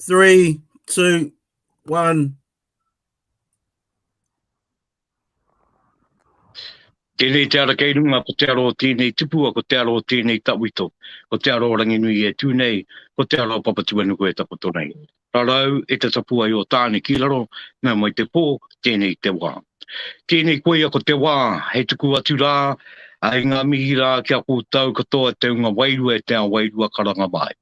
Three, two, one. Tēnei te ara kei runga, ko te aro o tēnei tipua, ko te aro o tēnei tawito, ko te aro o Ranginui e tū nei, ko te aro o Papatuanuku e takoto nei. Rarau e te tapuae o Tāne ki raro, mea mai te pō, tēnei te wā. Tēnei koia ko te wā, hei tuku atu rā, hei ngā mihi rā ki a koutou katoa te unga wairua e te ao wairua karanga mai.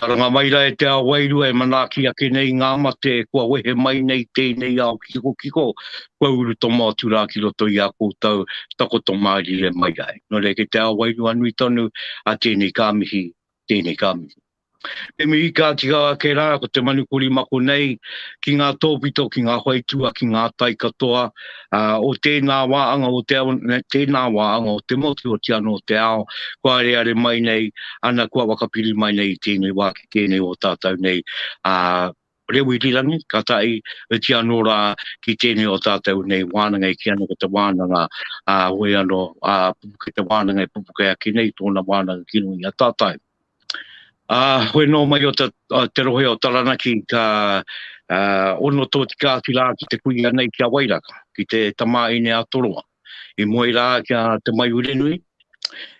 Karanga mai rā e te ao wairua e manaaki ake nei ngā mate kua wehe mai nei tēnei ao kikokiko kua urutomo atu rā ki roto i a koutou takoto mārire mai ai. Nō reira kei te ao wairua nui tonu, ā tēnei ka mihi, tēnei ka mihi. Te mihi ka tika ake rā ko te manu korimako nei ki ngā tōpito, ki ngā whaitua, ki ngā tai katoa o tēnā wā anga o te ao, tēnā wā anga o te motu, otirā anō o te ao, kua areare mai nei, ana kua whakapiri mai nei i tēnei wā ki tēnei o tātou nei, ā. Rewi Rirangi, ka tae iti anō rā ki tēnei o tātou nei wānanga e kī ana ko te wānanga ā whoi anō ā pupuke te wānanga e pupuke ake nei tōna wānanga ki runga i a tātou. Ā whoi nō mai o te te rohe o Taranaki ka ā ono tōtika atu rā ki te kuia nei ki a Wairaka, ki te tamāine a Toroa. i moe rā ki a Te Maiurenui,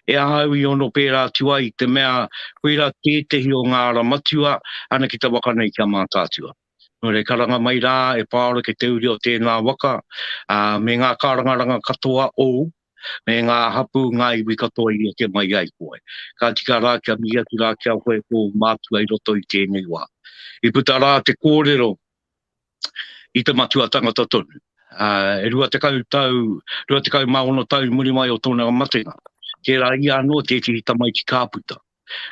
e ahau i ono pērā atu ai, te mea koirā tētehi o ngā ara matua ana ki te waka nei ki a Mātaatua. Nō reira, karanga mai rā e Pāora ki te uri o tēnā waka, ā, me ngā kārangaranga katoa ōu, me ngā hapū, ngā iwi katoa i eke mai ai koe. Ka tika rā kia mihi atu rā ki a koe e tōu mātua i roto i tēnei wā. I puta rā te kōrero i te matua tangata tonu. E rua tekau tau, rua tekau mā ono tau i muri mai o tōna matenga, tērā ia anō tētehi tamaiti ka puta,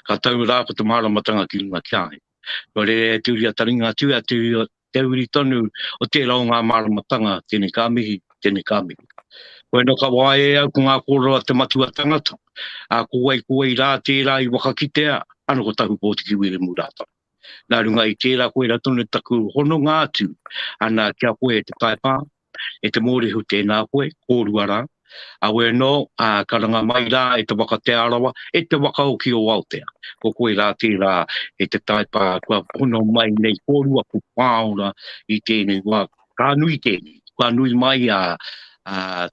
ka tau rā ko te māramatanga ki runga ki a ia. Kua rere e Te Uri a Taringa atu a Te Uri, te uri tonu o tērā o ngā māramatanga, tēnei ka mihi, tēnei ka mihi. Koe nō ka waea e au ko ngā kōrero a te matua tangata, ā, ko wai, ko wai rā tērā i whakakitea, ano ko Tahupōtiki Wiremu Rātana. Nā runga i tērā koirā tonu taku hononga atu ana ki a koe e te Taipā, e te Mōrehu tēnā koe, kōrua rā, awe anō, ā, karanga mai rā e te waka Te Arawa, e te waka oki o Aotea. Ko koe rā tērā e te Taipā kua hono mai nei kōrua ko Pāora i tēnei wā. Ka nui tēnei, kua nui mai a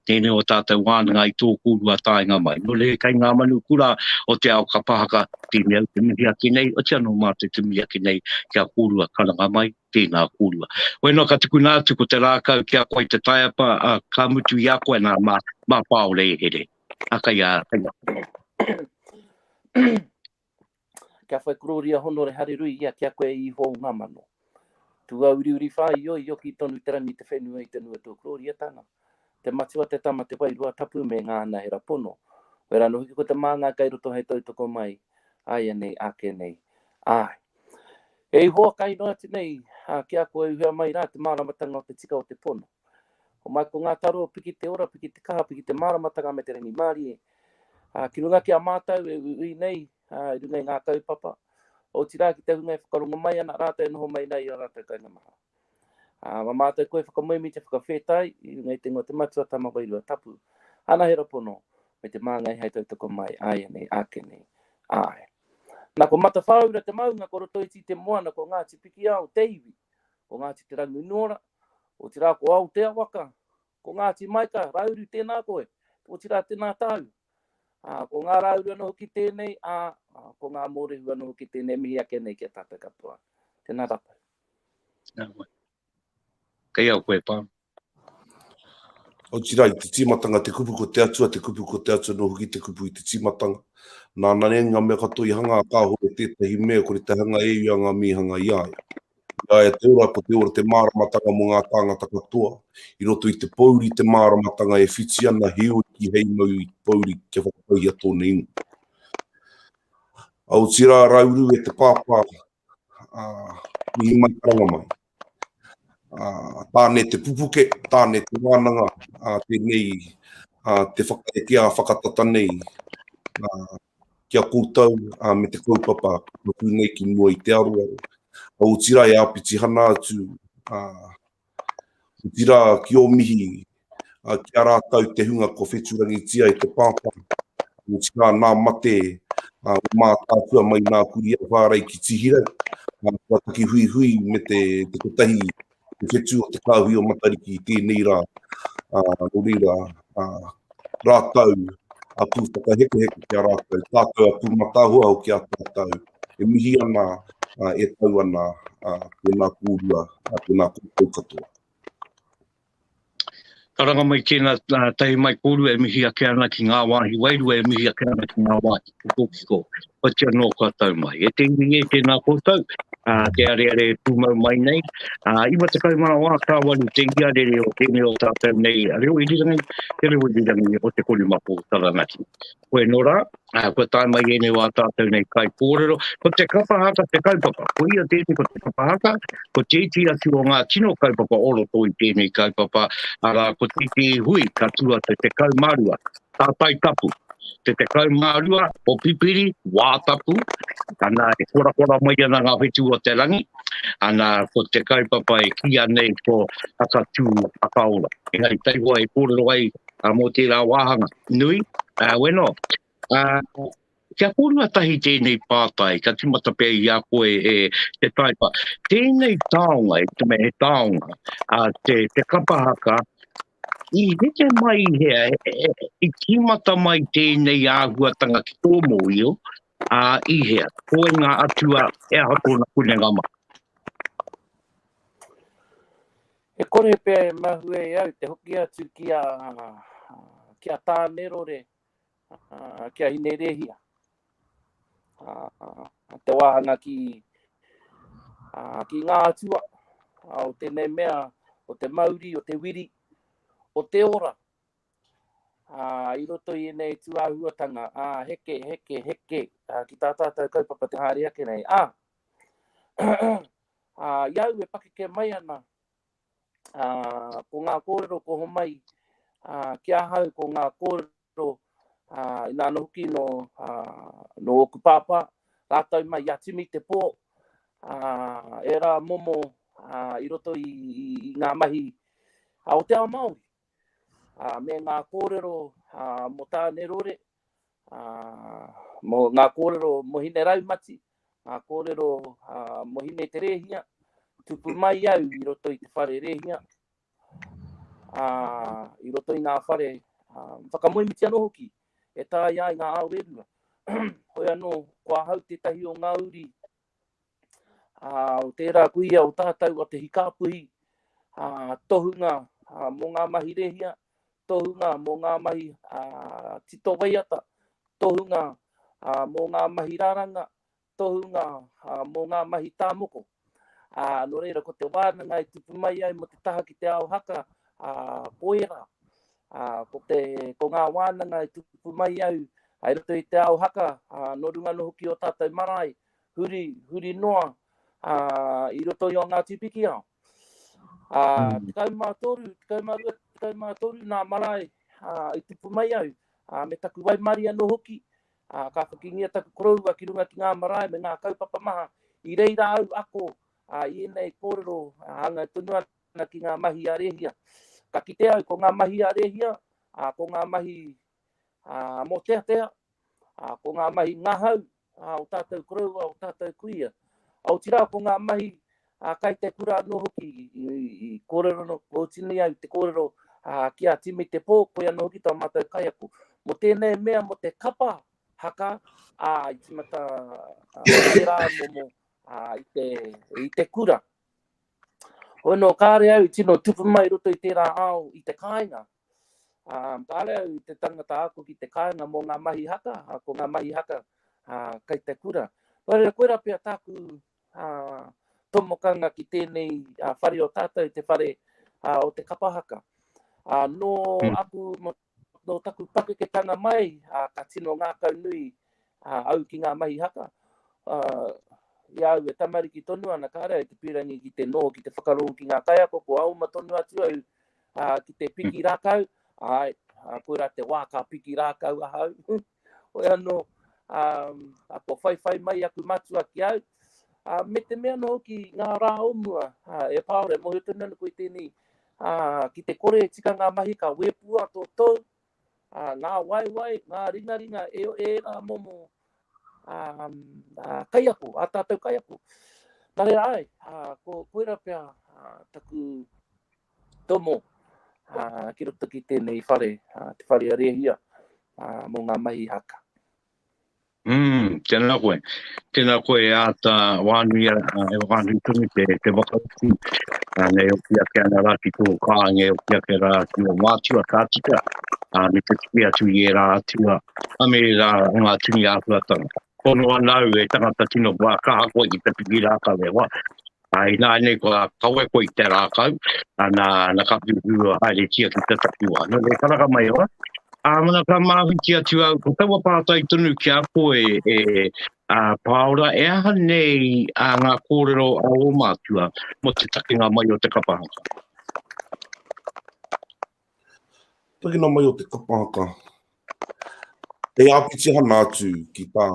tēnei o tātou wānanga i tō kōrua taenga mai. Nō reira kei ngā manu kura o te ao ka pahaka, tēnei au te mihi ake nei, otia nō mātou te mihi ake nei ki a kōrua karanga mai, tēnā kōrua. Hoi noa ka tukuna atu ko te rākau ki a koe te taiapa, ā, ka mutu i a koe nā, mā, mā pāore e here. Ā, kei a, kei a. Kia whai kororia honore harerui ia ki a koe e Iho o nga mano. Tuauriuri wha i oi oki tonu te rangi te whenua i te nui o tua kororiatanga. Te Matua, te Tama, te Wairua Tapu me nga anahera pono. Koe ra ano hoki ko te Manga kai roto hei tautoko mai aianei ake nei. Ae. E Ihowa kai noa atu nei ki a koe uhea mai ra te maramatanga o te tika o te pono. Ko Mai ko ngā taro, piki te ora, piki te kaha, piki te māramatanga me te rangimārie. Ā, ki runga ki a mātou e uiui nei, ā, i runga i ngā kaupapa, otirā ki te hunga e whakarongo mai ana rātou e noho mai nei i ō rātou kainga maha. Ā, mā mātou koe whakamoemi te whakawhētai i runga i te ingoa Te Matua Tama Wairua Tapu, Ana Hera Pono, me te māngai hei tautoko mai āianei, āke nei, āe. Nā, ko Matawhāura te maunga, ko Rotoiti te moana, ko Ngāti Pikiao te iwi, ko Ngāti Te Ranginuora, Otirā ko Aotea waka, ko Ngāti Maika, Rauru tēnā koe, otirā tēnā tāu. Ā, ko ngā Rauru anō hoki tēnei, ā, ko ngā Mōrehu anō hoki tēnei e mihi ake nei ki a tātou katoa. Tēnā tātou. Tēnā koe. Kei au koe, Pam. Otirā i te tīmatanga te kupu ko te Atua, te kupu ko te Atua anō hoki te kupu i te tīmatanga. Nāna nei ngā mea katoa i hanga a Kāhore tētahi mea kore te hanga e ia ngā mīhanga i a ia. I a ia te ora ko te ora te māramatanga mō ngā tāngata katoa. I roto i te pōuri te māramatanga e whiti ana heoi ki hei mau i te pōuri kia whakatauhia tōna ingoa. A otirā Rauru e te pāpā a mihi mai karanga mai. A tāne te pupuke, tāne te wānanga a tēnei a te whakaekea whakatata nei a ki a koutou me te kaupapa kua tū nei ki mua i te aroaro, otirā e āpitihana atu, otirā ki ō mihi ki a rātou te hunga kua whetūrangitia e te Pāpā, otirā nā mate o Mātaatua mai nā Kurī Ahuārei ki Tihirau, kua taki huihui me te kotahi te whetū o te kāhui o Matariki i tēnei rā, ā, nō reira, ā, rātou a pū whakahekoheko ki a rātou, tātou a pū matahoa hoki a tātou, e mihi ana, ā, e tau ana, ā, tēnā kōrua, ā, tēnā koutou katoa. Karanga mai tēnā tahi mai kōrua e mihi ake ana ki ngā wāhi wairua e mihi ake ana ki ngā wāhi kikokiko whatia noa kua tau mai. E te iwi e tēnā koutou, te areare e pūmau mai nei. 90 ngā wā ka waru te iarere o tēnei o tātou nei reo irirangi, te reo irirangi o Te Korimako Taranaki. Koe no ra, kua tae mai enei wa tatou nei kai korero, ko te kapa haka te kaupapa, ko ia tenei ko te kapa haka, ko te iti atu o nga tino kaupapa o roto i tenei kaupapa, ara ko te iti hui ka tu a te tekau ma rua, ta tai tapu, te tekau ma rua o pipiri, wa tapu, ana e korakora mai ana nga whetu o te rangi, ana ko te kaupapa e ki a nei ko Haka tu Haka ora. Engari tai hoa e korero ai mo tera wahanga. Nui, ā, weno. Ā, kia kōrua tahi tēnei pātai, kia tīmata pea i a koe e te Taipa. Tēnei taonga, i te mea he taonga, ā, te, te kapa haka, i heke mai i hea, i tīmata mai tēnei āhuatanga ki tō mōhio, ā, i hea, koe ngā atua, he aha tōna kunenga mai? E kore pea e mahue e au te hoki atu ki a, ki a Tānerore, ki a Hinerēhia, te wāhanga ki, ki ngā atua o tēnei mea, o te mauri, o te wiri, o te ora, i roto i ēnei tūāhuatanga, ā, heke, heke, heke, ki tā tātou kaupapa te haere ake nei, ā, ā, i au e pakeke mai ana, ā, ko ngā kōrero ko homai, ā, ki ahau ko ngā kōrero, ā, inā anō hoki nō, ā, nō ōku pāpā, rātou mai i a Timi Te Pō, ā, ērā momo, ā, i roto i, i, i ngā mahi, ā, o te ao Māori, ā, me ngā kōrero, ā, mō Tāne Rore, Mō ngā kōrero mohine raumati, ngā kōrero mohine te rēhia, tupu mai au i roto i te whare rēhia, i roto i ngā whare whakamoemiti anō hoki, e tāia ai ngā ao rerua. Hoi anō, ko ahau tētahi o ngā uri ā, o tērā kuia o tātou a Te Hikāpuhi, ā, tohunga ā, mō ngā mahi rehia, tohunga mō ngā mahi ā, tito waiata, tohunga ā, mō ngā mahi raranga, tohunga ā, mō ngā mahi tāmoko. Ā, nō reira, ko te wānanga e tupu mai ai mō te taha ki te ao haka, ā, ko ērā. Ā, ko te, ko ngā wānanga i tupu mai au, hai roto i te ao haka, ā, nō runga anō hoki i ō tātou marae, huri, huri noa, ā, i roto i ō Ngāti Pikiao. Ā, tekau mā toru, tekau mā rua, tekau mā toru nā marae, ā, i tupu mai au, ā, me taku waimarie anō hoki, ā, ka whakingia taku koroua ki runga ki ngā marae me ngā kaupapa maha, i reira au ako, ā, i ēnei kōrero, ā, hāngai tonu ana. ana ki ngā mahi a Rēhia. Ka kite au ko ngā mahi a Rēhia, ā, ko ngā mahi ā, mōteatea, ā, ko ngā mahi ngahau ā, o tātou koroua, o tātou kuia. Otirā ko ngā mahi ā, kai te kura anō hoki i, i, i kōrero anō, kōtini ai te kōrero ā, ki a Timi Te Pō, koia anō hoki tō mātou kaiako. Mō tēnei mea, mō te kapa haka, ā, i tīmata ā, pērā momo ā, i, te, i te kura, Hoi nō kāre au i tino tupu mai roto i tērā ao i te kāinga. Kāre au i te tangata ako ki te kāinga mō ngā mahi haka, ko ngā mahi haka kei te kura. Nō reira, koirā pea tāku tomokanga ki tēnei whare o tātou, te whare o te kapa haka. Nō aku Nō taku pakeketanga mai, ka tino ngākau nui au ki ngā mahi haka. I a au e tamariki tonu ana, kāre au te pīrangi ki te noho, ki te whakarongo ki ngā kaiako, kua oma tonu atu au ki te piki rākau, āe, koirā te wā ka piki rākau ahau. Hoi anō, a kua whaiwhai mai aku matua ki au, me te mea anō hoki ngā rā o mua, e Pāora, e mōhio tonu ana koe i tēnei, ki te kore e tika ngā mahi ka wēpua tō tou, ngā waewae, ngā ringaringa e ērā momo kaiako, ā tātou kaiako. Nā reira āe, koira pea taku Tomo, ki roto ki tēnei whare, te whare a Rehia, mō ngā mahi haka. Mm, tēnā koe. Tēnā koe e āta wānui, e wānui tonu te, te whakautu. Uh, nei oki ake ana rā ki tō kānge, oki ake rā ki o mātua ka tika, uh, me te tuki atu i e rā atua, a me rā ngā tini āhuatanga. Kono anau e tangata tino wā, ka hako i te piki rākau e wā. Ā, ināianei kua kawe koe i te rākau, nā, nā ka whiuwhiua haeretia ki te takiwā. Nō reira, karanga mai au, ā, nā ka māwhiti atu au, ko taua pātai tonu ki a koe e, ā, Pāora, e aha nei ā ngā kōrero a ō mātua mō te takenga mai o te kapa haka? Takina mai o te kapa haka, hei āpitihana atu ki tā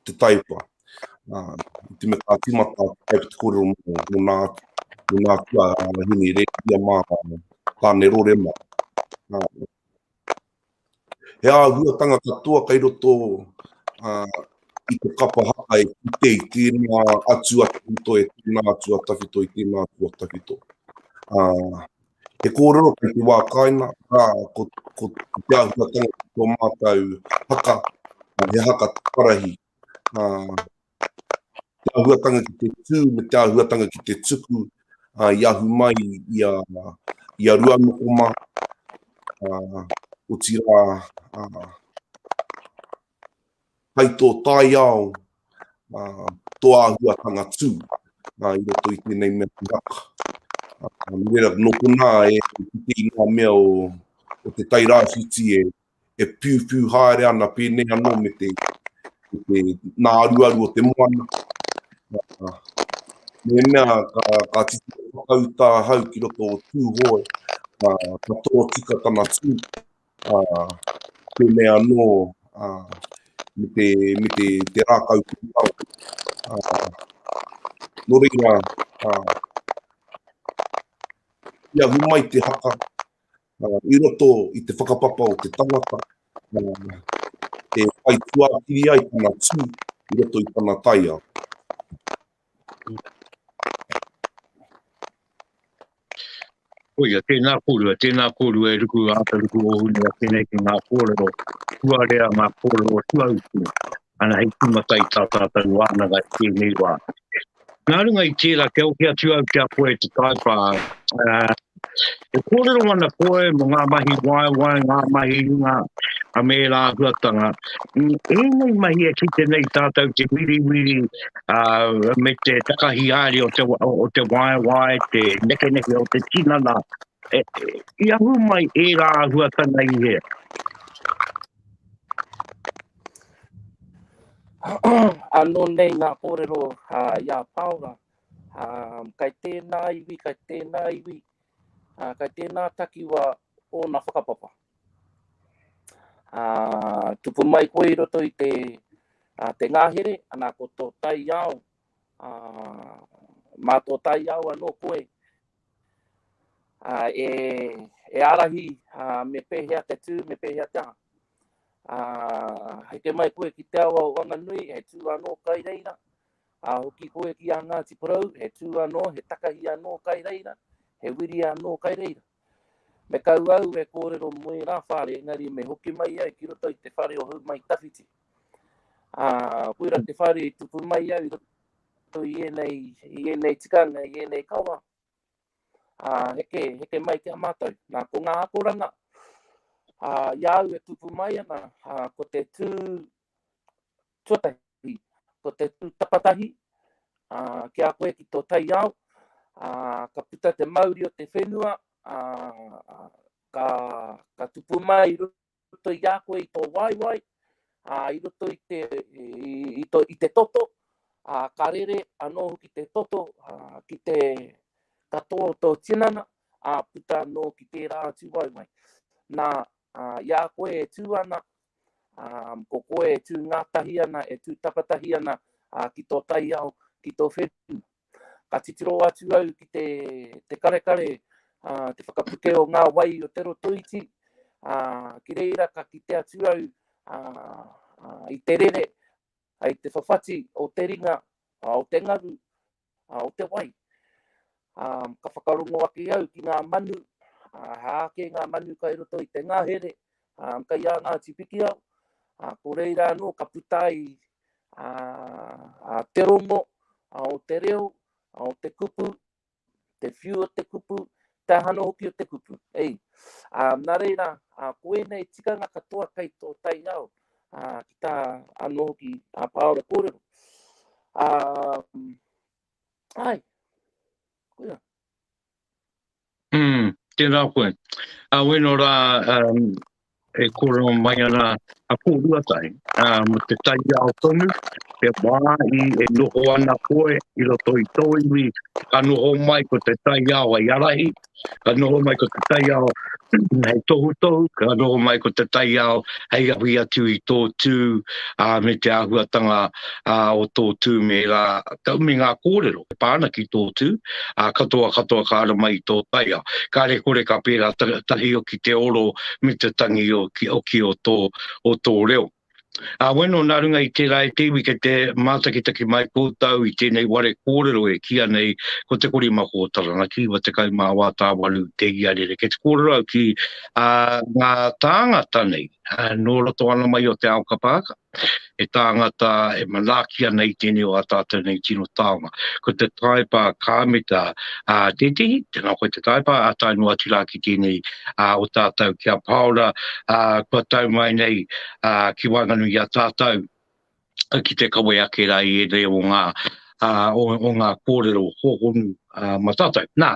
te taipa, te me kā tīmata kai te kōrero mō, mō nā, mō nā tua hini rēhia mā, tāne rore mā. He āhuatanga katoa kei roto i te kapa haka e kite i tēnā atu a tawhito, e tēnā atu a tawhito, i tēnā atu a tawhito. He kōrero kei te wā kāinga, rā, ko te āhuatanga ki tō mātou haka, he haka parahi, te āhuatanga ki te tū me te āhuatanga ki te tuku i ahu mai i a, i a Ruanokoma, uh, otirā, uh, hai tō taiao, uh, tō āhuatanga tū, uh, i roto i tēnei mea ki haka. Uh, mera, nō konā e, ki te inā mea o, o te tairāwhiti e, e piupiu haere ana pēnei anō me te, me te nāruaru o te moana. Uh, mea ka, ka titiro whakauta ahau ki roto o Tūhoe, uh, ka tōtika tana tū, uh, pēnei anō uh, me te, me te, te rākau kūtau. Uh, nō reira, uh, ia humai te haka, i roto i te whakapapa o te tangata e whai tuakiri ai tana tū i roto i tana taiao. Koia, tēnā kōrua, tēnā kōrua e ruku āta ruku o hune a tēnei ki ngā kōrero, tuarea ngā kōrero tuautu, Ana hei tīmata i tā tātou wānanga i tēnei wā. Nā runga i tērā, kia oke atu au ki a koe te taipa. E kōrero ana koe mo ngā mahi waewae, ngā mahi runga, a me ērā āhuatanga. Ēnei mahi e kite nei tātou te wiriwiri me te takahi haere o te waewae, te nekeneke o te tinana. I ahu mai ērā āhuatanga i hea? Anō nei ngā kōrero i a Pāora, kei tēnā iwi, kei tēnā iwi, kei tēnā takiwā ōna whakapapa. Tupu mai koe i roto i te te ngāhere, anā, ko tō taiao, mā tō taiao anō koe, e ārahi me pēhea te tū, me pēhea te aha. Hei te mai koe ki te awa o Wanganui, he tū anō kai reira, hoki koe ki a Ngāti Porou, he tū anō, he takahi anō kai reira, he wiri anō kai reira. Me kau au e kōrero mō ērā whare, engari me hoki mai ai ki roto i te whare o Houmaitawhiti. Koira te whare i tupu mai au i roto. Tau i ēnei, i ēnei tikanga, i ēnei kawa, ā, heke, heke mai ki a mātou. Nā, ko ngā akoranga, ā, i a au e tupu mai ana, ā, ko te tū tuatahi, ko te tū tapatahi, ā, ki a koe ki tō taiao, ā, ka puta te mauri o te whenua, ā, ka, ka tupu mai i runga. roto i a koe i tō waewae, ā, i roto i te, i tō, i te toto, ā, ka rere anō hoki te toto, ā, ki te katoa o tō tinana, ā, puta anō ki tērā atu waewae. Nā, ā, i a koe e tū ana, ā, ko koe e tū ngātahi ana, e tū takatahi ana, ā, ki tō taiao, ki tō whenua. Ka titiro atu au ki te, te karekare, ā, te whakapuke o ngā wai o Te Rotoiti, ā, ki reira ka kite atu au, ā, ā, i te rere, ā, i te whawhati o te ringa, ā, o te ngaru, ā, o te wai. Ā, ka whakarongo ake au ki ngā manu, ā, he āke ngā manu kai roto i te ngahere, ā, kai ā Ngāti Pikiao, ā, ko reira anō ka puta ai a te rongo, a o te reo, a o te kupu, te whiu o te kupu, te aha anō hoki o te kupu. Ei, a, nā reira, a, ko ēnei tikanga katoa kei tō taiao, a, ki tā anō hoki a Pāora kōrero. A, ai, koia. Umm, tēnā koe. Ā, ueno rā e kōrero mai ana a Pōhuatahi, ā, mō te taiao tonu, he wā i e noho ana koe i roto i tō iwi, ka noho mai ko te taiao hei ārahi, ka noho mai ko te taiao hei tohutohu, ka noho mai ko te taiao hei ahui atu i tō tū, ā, me te āhuatanga ā, o tō tū me ngā, me ngā kōrero e pā ana ki tō tū, ā, katoa katoa ka ara mai i tō taiao. Kāre kore ka pērā tahi o ki te oro me te tangi o ki, o ki o tō, o tō reo. Ā, weno nā runga i tērā e te iwi kei te mātakitaki mai koutou i tēnei ware kōrero e kīa nei ko Te Korimako o Taranaki, 94 tāwaru te iarere. Kei te kōrero au ki, ā, ngā tāngata nei, ā, nō roto ana mai o te ao kapa aka. he tāngata e manaaki ana i tēnei o ā tātou nei tino taonga. Ko te taepa ka mita ā tētehi, tēnā koe te taepa, ā tae noa atu rā ki tēnei ā o tātou ki a Pāora, ā kua tau mai nei ā ki waenganui i a tātou ki te kawe ake rā i ēnei o ngā ā o ngā kōrero hōhonu ā ma tātou. Nā,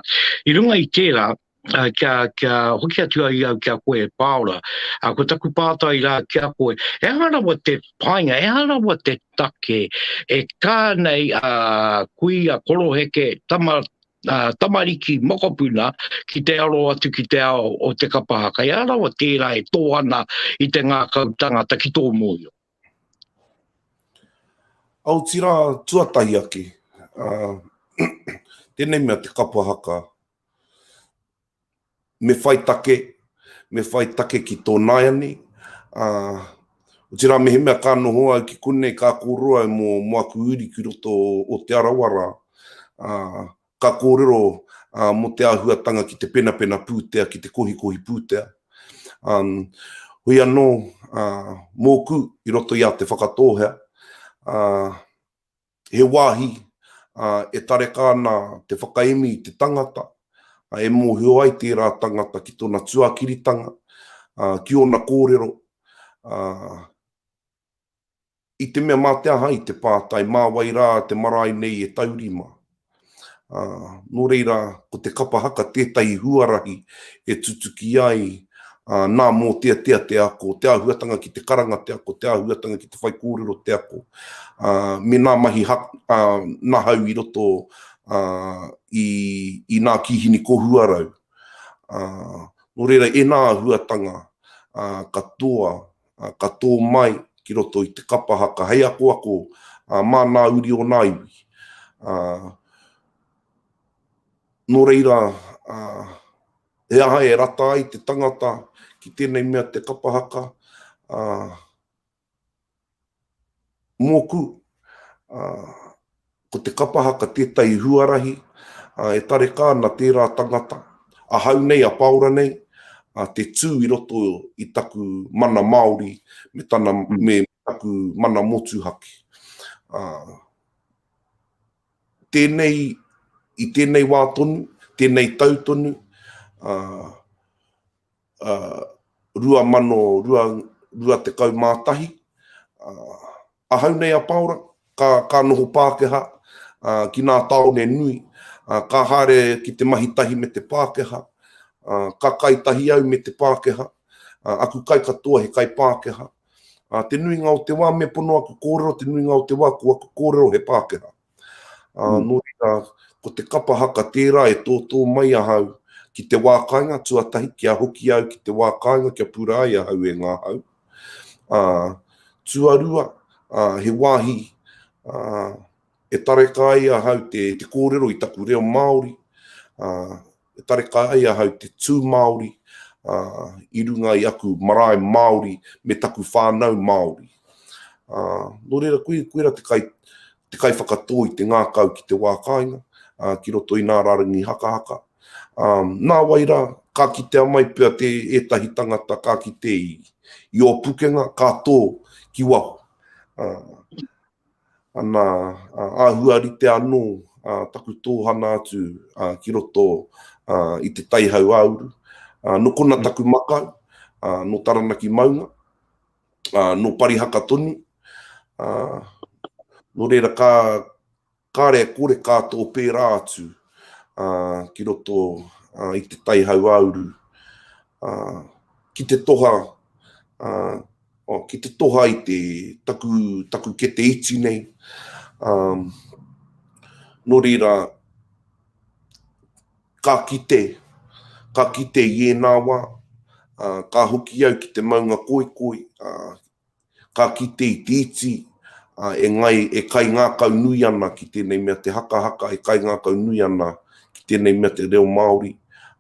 i runga i tērā, uh, kia, kia hoki atu ai au kia koe e pāora. Uh, ko taku pātai rā kia koe, e aha rawa te painga, e aha rawa te take, e kā nei a uh, kui a koroheke tama Uh, tamariki mokopuna ki te aro atu ki te ao o te kapahaka. Ia rawa tērā e tō ana i te ngākau tangata ki tō mōio. Aotirā tuatahi ake, uh, tēnei mea te kapahaka, me whai take, me whai take ki tō nāianei, ā, otirā mehemea ka noho au ki konei ka kōrero au mō, mō aku uri ki roto o Te Arawa rā, ā, ka kōrero, ā, mō te āhuatanga ki te penapena pūtea, ki te kohikohi pūtea. Ā, hoi anō, ā, mōku i roto i a Te Whakatōhea, ā, He wāhi e tareka ana te whakaemi i te tangata, e mōhio ai tērā tangata ki tōna tuakiritanga, ki ōna kōrero, i te mea mā te aha i te pātai, mā wai rā te marae nei e taurima. Ā, nō reira, ko te kapa haka tētahi huarahi e tutuki ai, ā, nā mōteatea te ako, te āhuatanga ki te karanga te ako, te āhuatanga ki te whaikōrero te ako, ā, me nā mahi ha, ā, nahau i roto, ā, i, i nā kīhini kohuarau. Ā, nō reira, e nā āhuatanga, ā, katoa, ka tō mai ki roto i te kapa haka hei akoako mā ngā uri o ngā iwi. Nō reira, he aha e rata ai te tangata ki tēnei mea te kapa haka? Mōku, ā, ko te kapa haka tētahi huarahi, ā, e tareka ana tērā tangata, ahau nei, a Pāora nei, ā, te tū i roto i taku mana Māori me tana, me taku mana motuhake. Ā, tēnei, i tēnei wā tonu, tēnei tau tonu, ā, 2021. Ahau nei a Paora, ka noho Pākehā ki nā tāone nui, ka haere ki te mahi tahi me te Pākehā, ka kai tahi au me te Pākehā, aku kai katoa he kai Pākehā. Te nuinga o te wā me pono aku kōrero, te nuinga o te wā ko aku kōrero he Pākehā. Ā, nō reira, ko te kapa haka tērā e tōtō mai ahau ki te wā kāinga tuatahi, kia hoki au ki te wā kāinga kia pura ai ahau e ngā hau. Ā, tuarua, ā, he wāhi, ā, e tareka ai ahau te, te kōrero i taku reo Māori, ā, E tareka ai ahau te tū Māori i runga i aku marae Māori me taku whānau Māori. Nō reira, koira te kai, te kaiwhakatō i te ngākau ki te wā kāinga, ki roto i nā rārangi hakahaka. Nā wai rā, ka kitea mai pea te ētahi tangata ka kite i ō pukenga, ka tō ki waho. Ana āhua rite anō taku tōhana atu ki roto i te tai hauāuru. Nō kona taku makau, nō Taranaki maunga, nō Parihaka tonu. Nō reira ka kare e kore ka tō pērā atu ki roto i te tai hauāuru ki te toha, Oh, ki te toha i te, taku, taku kete iti nei. Um, nō reira, ka kite, ka kite i ēnā wā, uh, ka hoki au ki te maunga koikoi, uh, ka kite i te iti, uh, e, ngai, e kai ngākau nui ana ki tēnei mea te hakahaka, e kai ngākau nui ana ki tēnei mea te reo Māori,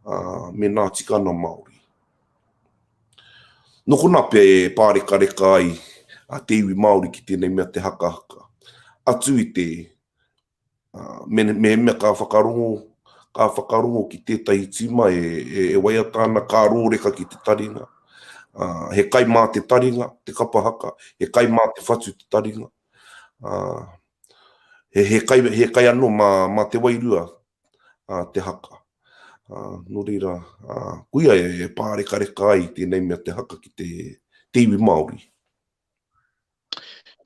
uh, me nā tikana Māori. Nō konā pea e pārekareka ai te iwi Māori ki tēnei mea te hakahaka, atu i te mehemea ka whakarongo, ka whakarongo ki tētahi tīma e waiata ana, ka rōreka ki te taringa. He kai mā te taringa te kapa haka, he kai mā te whatu te taringa, he kai anō mā te wairua te haka. Nō reira, koia e pārekareka ai tēnei mea te haka ki te iwi Māori.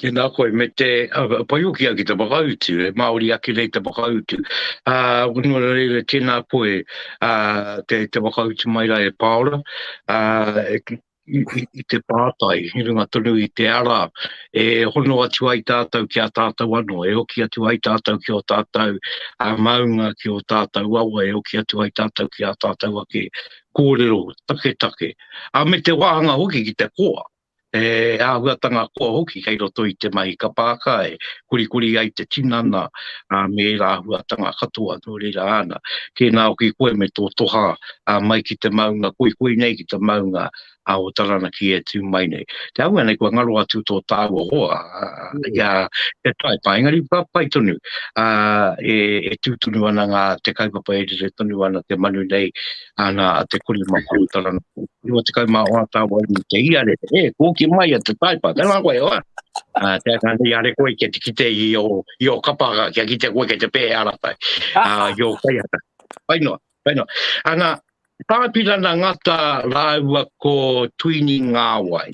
Tēnā koe, me te pai hoki au ki te whakautu, e Māori ake nei te whakautu. Nō reira, tēnā koe te whakautu mai rā e Pāora, i te pātai, i runga tonu i te ara e hono atu ai tātou ki a tātou anō, e hoki atu ai tātou ki ō tātou maunga, ki ō tātou awa, e hoki atu ai tātou ki ā tātou ake kōrero taketake. Ā, me te wāhanga hoki ki te koa, he āhuatanga koa hoki kei roto i te mahi ka pāka e korikori ai te tinana me ērā āhuatanga katoa, nō reira āna, tēnā hoki koe me tō toha a mai ki te maunga koikoi nei, ki te maunga a o Taranaki e tū mai nei. Te aua nei, kua ngaro atu tō tāua hoa, mm. ia te taipa, engari pa, pai tonu, a, e, e tū tonu ana ngā te kaupapa e rere tonu ana te manu nei, ana a te kori mā kua Taranaki. Rua te kaumā hoa tāua i te iare, e, kōki mai a te taipa, te ngā koe hoa. Uh, te ata nei are koe kia te kite i o, i o kapaka, kia kite koe kia te pēhe aratai, uh, i o kaiata. Pai noa. Whainga. Ana, Tāpirana Ngata rāua ko Tuini Ngāwai.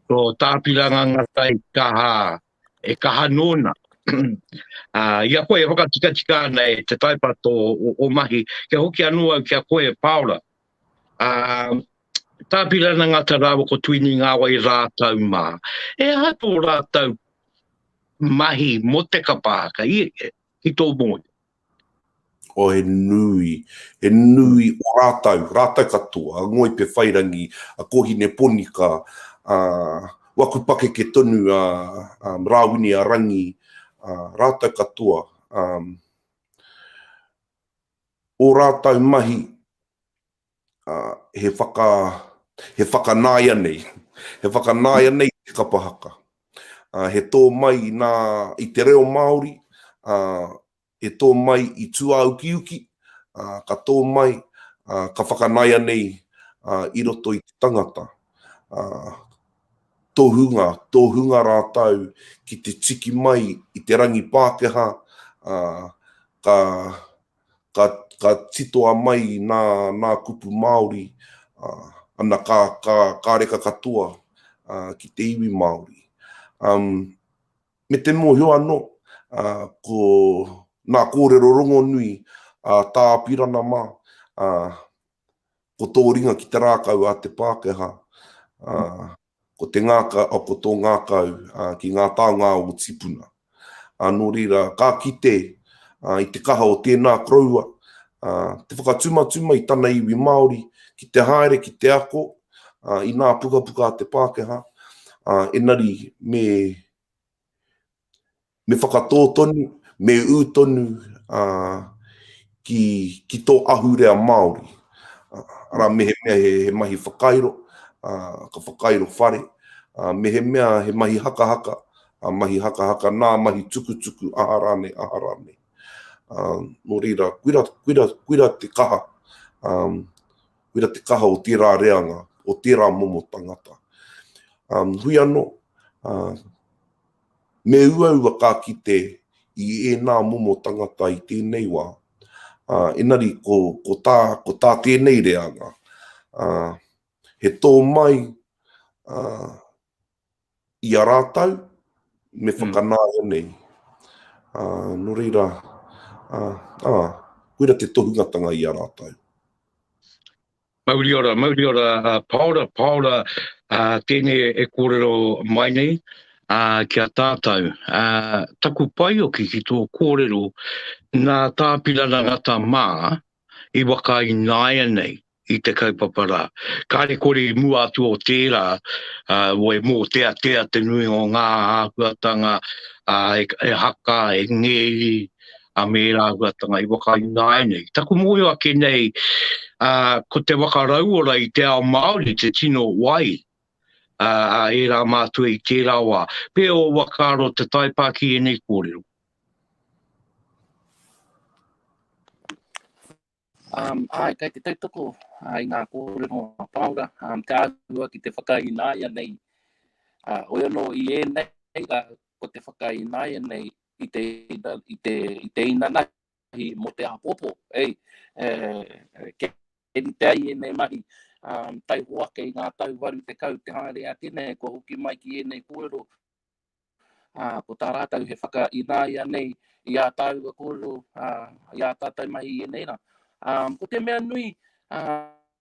Ko Tāpirana Ngata i kaha, e kaha nōna. Ā, i a koe e whakatikatika ana e te taipato o ō mahi, kia hoki anō au ki a koe e Pāora. Ā, Tāpirana Ngata rāua ko Tuini Ngāwai rātou mā. He aha tō rātou mahi mō te kapa haka i, ki tō mōhio? Oh, he nui, he nui o rātou, rātou katoa, a Ngoi Pewhairangi, a Kōhine Ponika, a Waku Pakeke tonu, a Rāwini a Rangi, a rātou katoa. Ō rātou mahi, he whaka, he whakanāianei, he whakanāianei i te kapa haka. He tō mai i nā, i te reo Māori, he tō mai i tūāukiuki, ka tō mai, ka whakanāianei i roto i te tangata. Tohunga, tohunga rātou ki te tiki mai i te rangi Pākehā, ka, ka, ka titoa mai nā, nā kupu Māori, ā, ana kā, kā, kā reka katoa, ā, ki te iwi Māori. Um, me te mōhio anō, ā, ko nā kōrero rongonui a Tā Apirana mā, ā, ko tō ringa ki te rākau a te Pākehā, ā, Ko te ngaka, ko tō ngakau ki ngā taonga o tīpuna. Nō reira, ka kite i te kaha o tēnā koroua te whakatumatuma i tana iwi Māori ki te haere, ki te ako i nā pukapuka a te Pākehā, engari me Me whakatō tonu, me ū tonu ki tō ahurea Māori. Arā, mehemea he mahi whakairo, ka whakairo whare, mehemea he mahi hakahaka, mahi hakahaka nā, mahi tukutuku, aha rānei, aha rānei. Nō reira, koira te kaha, koira te kaha o tērā reanga, o tērā momo tangata. Hui anō, Me uaua ka kite i ēnā momo tangata i tēnei wā, ā, engari ko tā, ko tā tēnei reanga, ā, he tō mai, ā, i a rātou me whakanaia nei. Ā, nō reira, ā, ā, koira te tohungatanga i a rātou. Mauri ora, mauri ora, paora, paora tēnei e kōrero mai nei ki a tātou. Taku paeoki ki tō kōrero, nā Tāpirana Ngata mā i waka i nāia nei i te kaupapa rā. Kāre kore i mua atu o tērā, wai mōteatea te nuinga o ngā āhuatanga e haka, e ngēri, a me ērā āhuatanga i whakainga ai nei. Taku mōhio ake nei, ā, ko te whakarauora i te ao Māori te tino wai, ā, a ērā mātua i tērā wā. Pea ō whakaaro te taipā ki ēnei kōrero? Āe, kei te tautoko i ngā kōrero a Pāora, te āhua ki te whakaināia nei. Hoi anō i ēnei rā, ko te whakaināia nei i te, i te, i te inanahi mō te āpōpō. Kei rite ai ēnei mahi, taihoa kei ngā tau 80 te haere ake nei kua hoki mai ki ēnei kōrero, Ā, ko tā rātou he whakaināia nei i ā tāua kōrero, ā, i ā tātou mahi i ēnei rā. Ā, ko te mea nui, ā,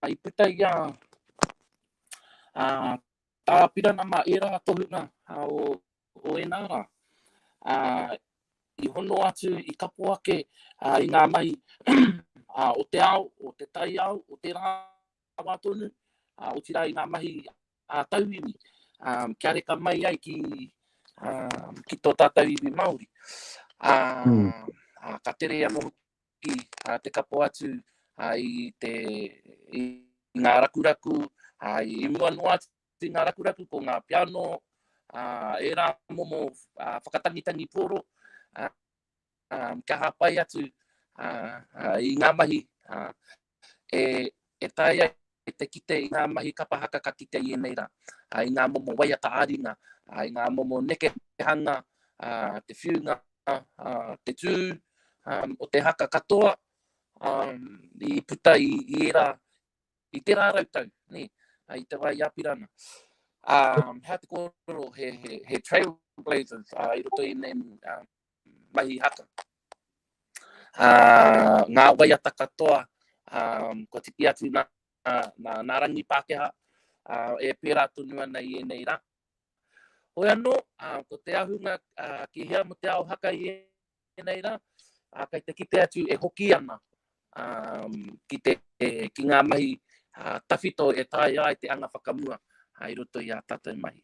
i puta i a, ā, tā Pirana mā ērā tohunga ā, o, o ēnā rā, ā, i hono atu, i kapo ake ā, i ngā mahi ā, o te ao, o te taiao, o tērā wā tonu, ā, otirā i ngā mahi a tauiwi, kia reka mai ai ki, ki tō tātou iwi Māori. A, mm. a, ka tere anō ki a, te kapo atu a, i, te, i ngā rakuraku, a, i mua noa atu i ngā rakuraku, ko ngā piano, a, e rā momo a, whakatangitangi pōro, a, a, kia hapai atu a, a, i ngā mahi a, e taea ai te kite i ngā mahi kapa haka ka kite i ēnei rā, i ngā momo waiata ā-ringa, i ngā momo nekehanga, te whiunga, te tū o te haka katoa i puta i ērā, i tērā rautau, nē, i te wā i Apirana. Hea te kōrero, he trailblazers i roto i ēnei mahi haka. Ā, ngā waiata katoa, ā, kua tiki atu nā, nā, nā rangi Pākehā, ā, e pērā tonu ana i ēnei rā. Hoi anō, ā, ko te ahunga ā, ki hea mo te ao haka i ēnei rā, ā, kei te kite atu e hoki ana ā, ki, te, e, ki ngā mahi ā, tawhito e taea ai te anga whakamua ā, i roto i ā tātou mahi.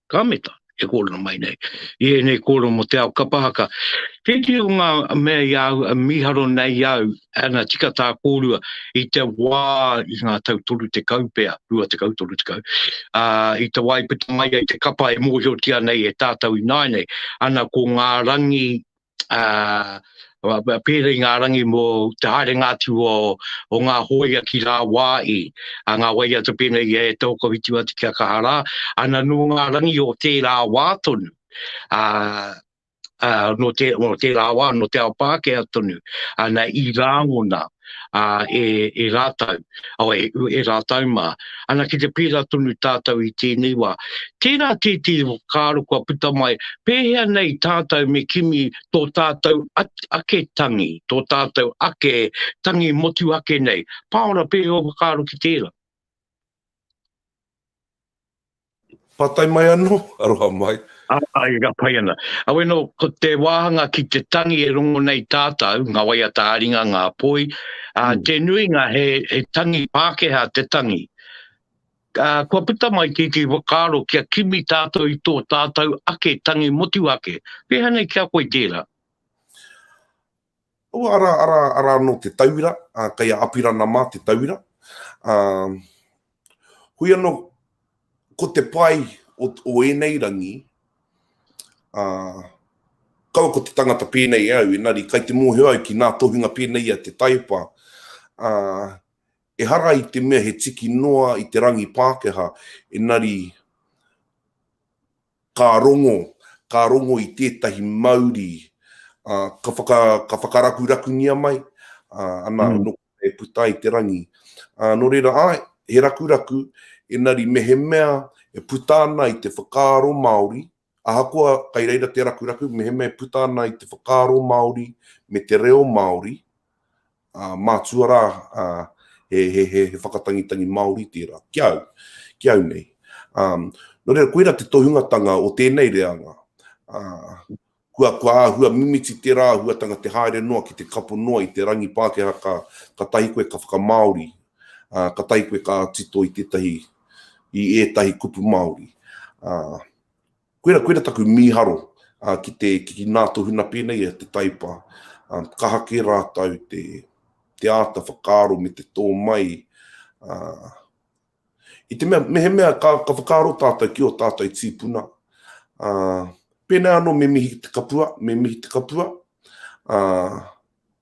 ka meta e kōrero mai nei i ēnei kōrero mō te ao kapa haka. Tētehi o ngā mea i a au e mīharo nei au, ana tika tā kōrua i te wā i ngā tau 30 pea, 20, 30, ā, i te wā i puta mai ai te kapa e mōhiotia nei e tātou ināianei, ana ko ngā rangi pērā i ngā rangi mō te haerenga atu o ngā hōia ki Rāwāhi, ngā waiata pēnei i a e Taokawhitu atu ki a Kaharā, ana nō ngā rangi o tērā wā tonu, nō tērā wā, nō te ao Pākehā tonu, ana i Rāngona. ā, e, e rātou, awa, e, e rātou mā. Ana ki te pērā tonu tātou i tēnei wā. Tērā tētehi whakaaro kua puta mai, pēhea nei tātou me kimi tō tātou ake tangi, tō tātou ake tangi motuhake nei? Pāora, pēhea ō whakaaro ki tērā? Pātai mai anō, aroha mai. Āe, ka pai ana. Awe nō, ko te wāhanga ki te tangi e rongo nei tātou, ngā waiata ā-ringa, ngā poi, ā, te nuinga he tangi Pākehā te tangi. Ā, kua puta mai tētehi whakaaro kia kimi tātou i tō tātou ake tangi motuhake. Pēhea nei ki a koe tērā? Ua ara, ara, ara anō te tauira, ā, kei a Apirana mā te tauira. Ā, hui anō, ko te pai o, o ēnei rangi, ā, kaua ko te tangata pēnei e au, engari kai te mōhio au ki ngā tohunga pēnei a Te Taepa, ā, ehara i te mea he tiki noa i te rangi Pākehā, engari, Ka rongo, ka rongo i tētahi mauri, ā, ka whaka, ka whakarakurakungia mai, ā, ana anō e puta ai te rangi. Ā, nō reira, āe, he rakuraku, engari mehemea e puta ana i te whakaaro Māori, ahakoa kai reira te rakuraku, mehemea e puta ana i te whakaaro Māori me te reo Māori, Mātua rā, he whakatangitangi Māori tērā, ki au, ki au nei. Nō reira, koirā te tohungatanga o tēnei reanga. Kua āhua mimiti tērā āhuatanga te haere noa ki te kapo noa i te rangi Pākehā ka tahi koe ka whakamāori, ka tahi koe ka tito i tētahi, i ētahi kupu Māori. Koira, koira taku mīharo ki te, ki nā tō huna pēnei e te Taipa, kaha kē rātou te, te āta whakaaro me te tō mai, i te mea, mehemea ka, ka whakaaro tātou ki ō tātou tīpuna, pēnei anō me mihi ki te kapua, me mihi te kapua,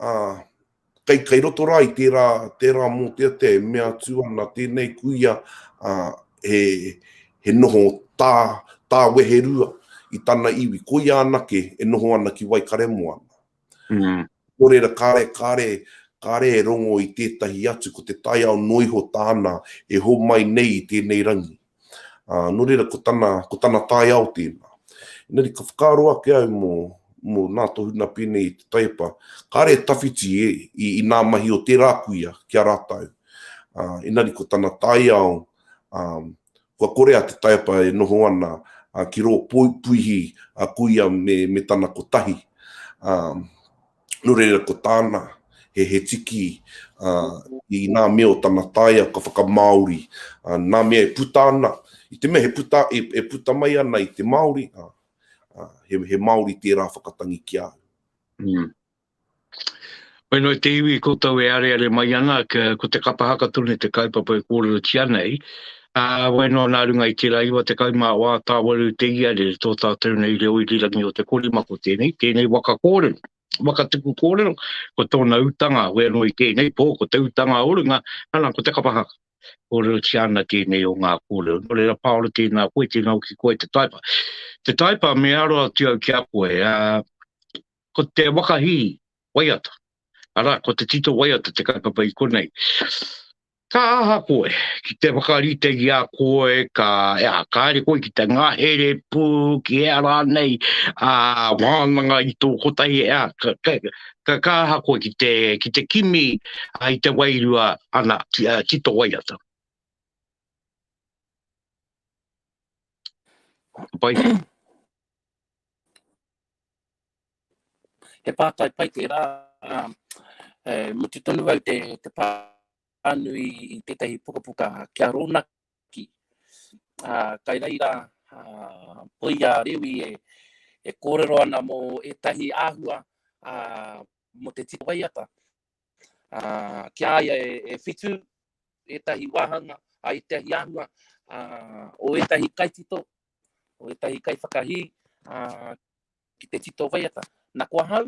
ā, kei, kei roto rā i tērā, tērā mōteatea e mea atu ana tēnei kuia, ā, he, he noho tā, tā Weherua i tana iwi, koia anake e noho ana ki Waikaremoana. Mm. Nō reira, kāre, kāre, kāre e rongo i tētahi atu, ko te taiao noa iho tāna e homai nei i tēnei rangi. Ā, nō reira ko tana, ko tana taiao tēnā. Engari ka whakaaro ake au mō, mō nā tō huna pēnei i te taiepa, kāre e tawhiti e, i, i nā mahi o tērā kuia ki a rātou. Ā, engari ko tana taiao, ā, kua kore a te taiepa e noho ana, ā, ki rō puihi a kuia me, me tana kotahi. Ā. Nō reira ko tāna, he, he tiki uh, i nā mea o tana taia ka whakamāori, uh, nā mea e puta ana, i te mea he puta, e, e puta mai ana i te Māori, uh, uh, he, he Māori tērā whakatangi ki au. Mm. Mai noi te iwi koutou e areare mai ana, ko te kapa hakatone te kaupapa e kōrero tia nei, Ā, wai noa nā runga i tērā iwa tekau mā wā tāwaru te iare i tō tātou nei reo irirangi o te korima ko tēnei, tēnei waka kōrero, waka tuku kōrero, ko tōna utanga wē anō i tēnei pō, ko te utanga o runga, ana, ko te kapa haka. Kōrerotia ana tēnei o ngā kōrero. Nō reira, Pāora, tēnā koe, tēnā hoki koe te Taipa. Te Taipa, me aro atu au ki a koe, ā, ko te waka hī, waiata, arā, ko te tito waiata te kaupapa i konei. Ka aha koe, ki te whakaritengi a koe, ka, ea, ka haere koe ki te ngahere pū, ki ea rānei, ā, wānanga i tō kotahi, ea, ka, ka, ka, ka aha koe ki te, ki te kimi a, i te wairua, ana, ti, ā, tito waiata. Ka pai? He pātai pai tērā. E mutu tonu au te pānui i tētahi pukapuka kia rōnaki. Kai reira, ko ia Rewi e kōrero ana mō ētahi āhua mō te tito waiata. Ki a ia e whitu ētahi wāhanga, ētahi āhua o ētahi kaitito, o ētahi kaiwhakahī ki te tito waiata. Na ko ahau,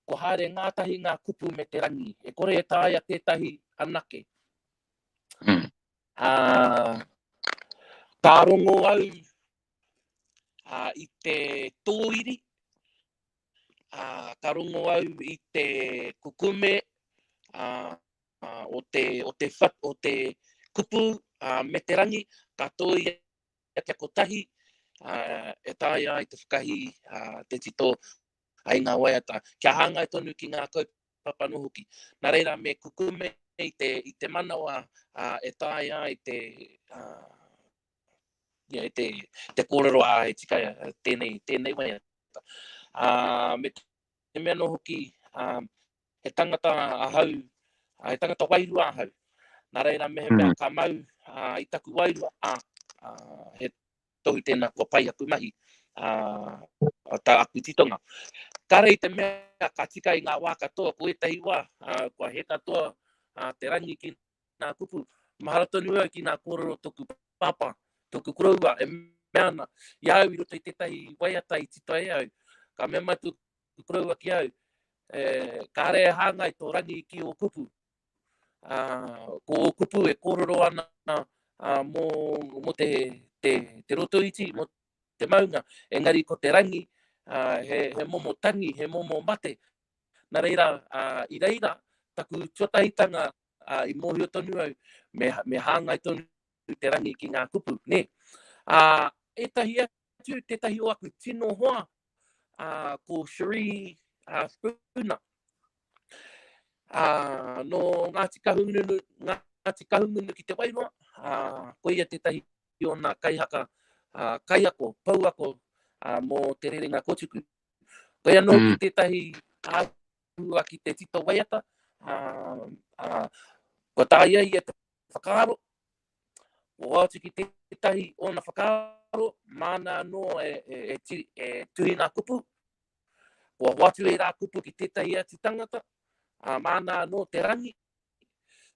kua haere ngātahi ngā kupu me te rangi, e kore e taea tētahi anake. Mm. Uh, ka rongo au uh, i te tōiri, uh, ka rongo au i te kukume uh, uh, o, te, o, te fat, o te kupu uh, me te rangi, ka tōi Kia te kotahi e taea ai te whakahi te tito ai ngā waiata, kia hāngai tonu ki ngā kaupapa noa hoki. Nā reira, me kukume i te, i te manawa uh, e tae ai te, uh, yeah, te, te kōrero a e tika tēnei, tēnei waiata. Uh, me te mea no hoki, uh, He tangata ahau, he tangata wairua ahau. Nā reira mehemea mm. ka mau uh, i taku wairua, a, uh, he tohu tēnā kua pai aku mahi, uh, tā aku titonga. Ka rei te mea ka tika i ngā wā katoa, ko ētahi wā, uh, kua he katoa uh, te rangi ki nā kupu. Mahara tonu au ki nā kōrero toku papa, toku koroua, e mea ana, i au i roto i tētahi waiata i tito e au, ka mea mai i koroua ki au, e, kāre e hāngai tō rangi ki ō kupu. Ā, ko ō kupu e kōrero ana ā, mō, mō te, te, te roto iti, mō te maunga, engari ko te rangi, ā, he, he momo tangi, he momo mate. Nā reira, ā, i reira, taku tuatahitanga, ā, i mōhio tonu au, me, me hāngai tonu te rangi ki ngā kupu, nē. Ā, ētahi atu, atu tētahi o aku tino hoa, uh, ko Cherie uh, Spooner. Uh, no Ngāti Kahungunu, Ngāti Kahungunu ki te Wairoa, uh, ko ia tētahi o nā kaihaka uh, kaiako, pouako uh, mō te rerenga kotuku. Ko ia no mm. ki tētahi āhua ki te tito waiata, uh, uh, ko tā ia ia Whakaaro, Ko Hoatu ki tētahi ōna whakaaro, māna anō e, e, e, tiri, e tuhi ngā kupu. Ko Hoatu e rā kupu ki tētahi atu tangata, a māna anō te rangi.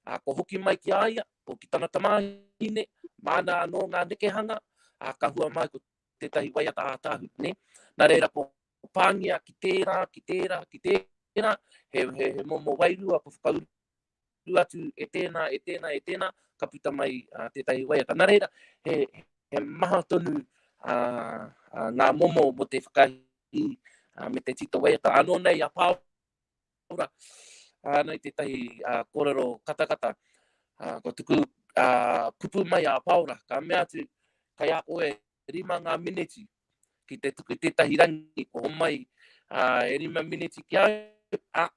A, ko hoki mai ki a ia, ko ki tana tamāhine, māna anō ngā nekehanga, a ka hua mai ko tētahi waiata ātāhu. Ne? Nā reira, ko pāngia ki tērā, ki tērā, ki tērā, he, he, he momo wairua ko whakauru uru atu e tēnā, e tēnā, e tēnā, ka puta mai uh, tētahi waiata. Nā reira, he, he maha tonu uh, uh, ngā momo mo te whakahi uh, me te tito waiata. Anō nei a Pāora, uh, nei tētahi uh, korero katakata, uh, ko tuku uh, kupu mai a Pāora, ka mea atu, kai a koe rima ngā mineti ki te tuku tētahi rangi, ko mai uh, e rima mineti ki au, uh,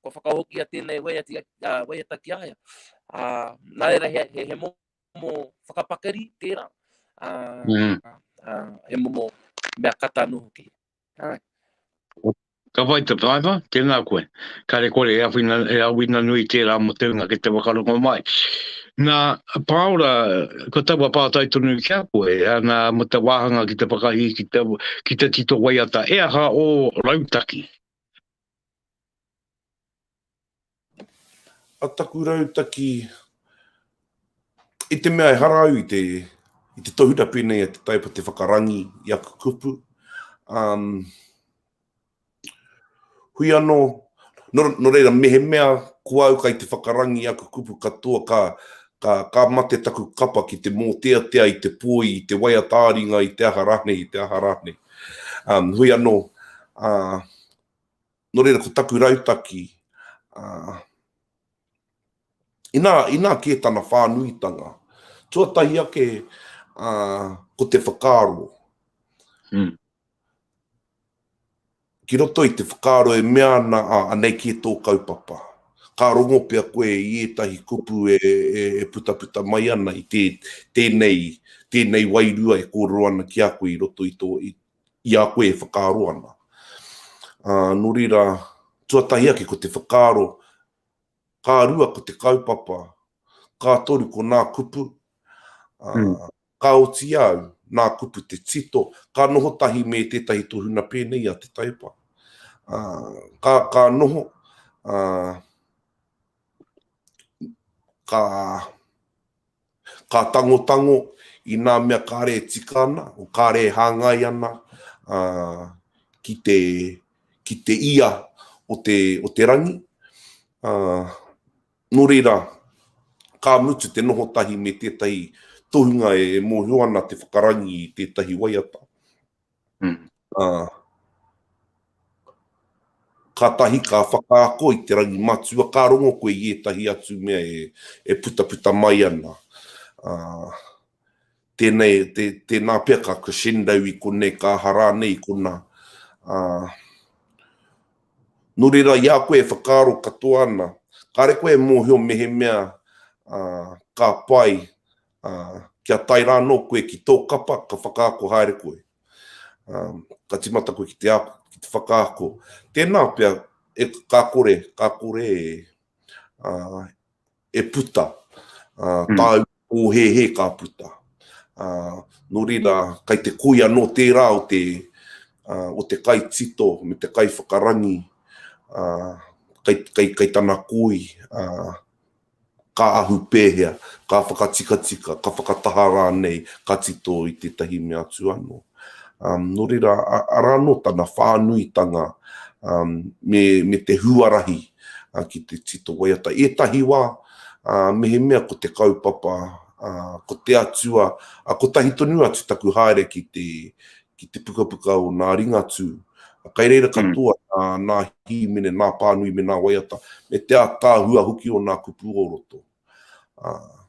kua whakahokia tēnei waiata, uh, waiata ki a ia. Uh, nā reira, he, he, he momo whakapakari tērā. Uh, mm. uh, he momo mea kata anō hoki. Uh. Ka whai te taiwa, tēnā koe. Ka re kore e awhina, e awina nui tērā mo te unga ki te wakarongo mai. Nā, pāora, ko taua pātai tonu ki a koe, nā, mo te wāhanga ki te whakahī, ki te, ki te tito waiata, e aha o rautaki? A taku rautaki, i te mea ehara au i te tohura pēnei a te taipa te whakarangi i aku kupu, hui anō, nō reira mehemea ko au kai te whakarangi i aku kupu katoa ka mate taku kapa ki te mōteatea i te poi, i te waiata ā-ringa, i te aha rānei, i te aha rānei. Hui anō, Nō reira ko taku rautaki, inā, inā kē tana whānuitanga, tuatahi ake ko te whakaaro. Ki roto i te whakaaro e mea ana, ā, anei kē tō kaupapa. Ka rongo pea koe i ētahi kupu e, e, e putaputa mai ana i tē, tēnei, tēnei wairua e kōrero ana ki a koe i roto i tō, i, i a koe e whakaaro ana. Ā, nō reira, tuatahi ake ko te whakaaro, ka rua ko te kaupapa, ka toru ko nā kupu, ā, mm. ka oti au, nā kupu te tito, ka noho tahi me tētahi tohuna pēnei a te taipa. Ā, ka, ka noho, ā, ka Ka tangotango i nā mea kāre e tika ana, o kāre e hāngai ana ki te, ki te ia o te, o te rangi. Nō reira, ka mutu te noho tahi me tētahi tohunga e mōhio ana te whakarangi i tētahi waiata. Mm. Uh, kātahi ka whakaako i te rangi matua, ka rongo koe i ētahi atu mea e, e puta puta mai ana. Uh, tēnei, te, tēnā pia ka crescendo i konei, ka harā nei i kona. Uh, nō reira, i a koe e whakaaro katoa ana, kāre koe e mōhio mehemea uh, ka pai Ā, kia tae rā anō koe ki tō kapa, ka whakaako haere koe. Ā, ka tīmata koe ki te ako, ki te whakaako. Tēnā pea, e, ka kore, ka kore e, ā, e puta, ā, tāu pōhēhē ka puta. Ā, nō reira, kei te koi anō tērā o te, ā, o te kaitito me te kaiwhakarangi, ā, kei, kei, kei tana koi, ā, Ka ahu pēhea, ka whakatikatika, ka whakataha rānei, ka tito i tētahi mea atu anō. Nō reira, arā anō tana whānuitanga me te huarahi ki te tito waiata. Ētahi wā, mehemea ko te kaupapa, ko te Atua, kotahi tonu atu taku haere ki ki te pukapuka o nā Ringatū. Kai reira katoa nā, nā hīmene, nā pānui me nā waiata, me te ataahua hoki o nā kupu o roto. Uh,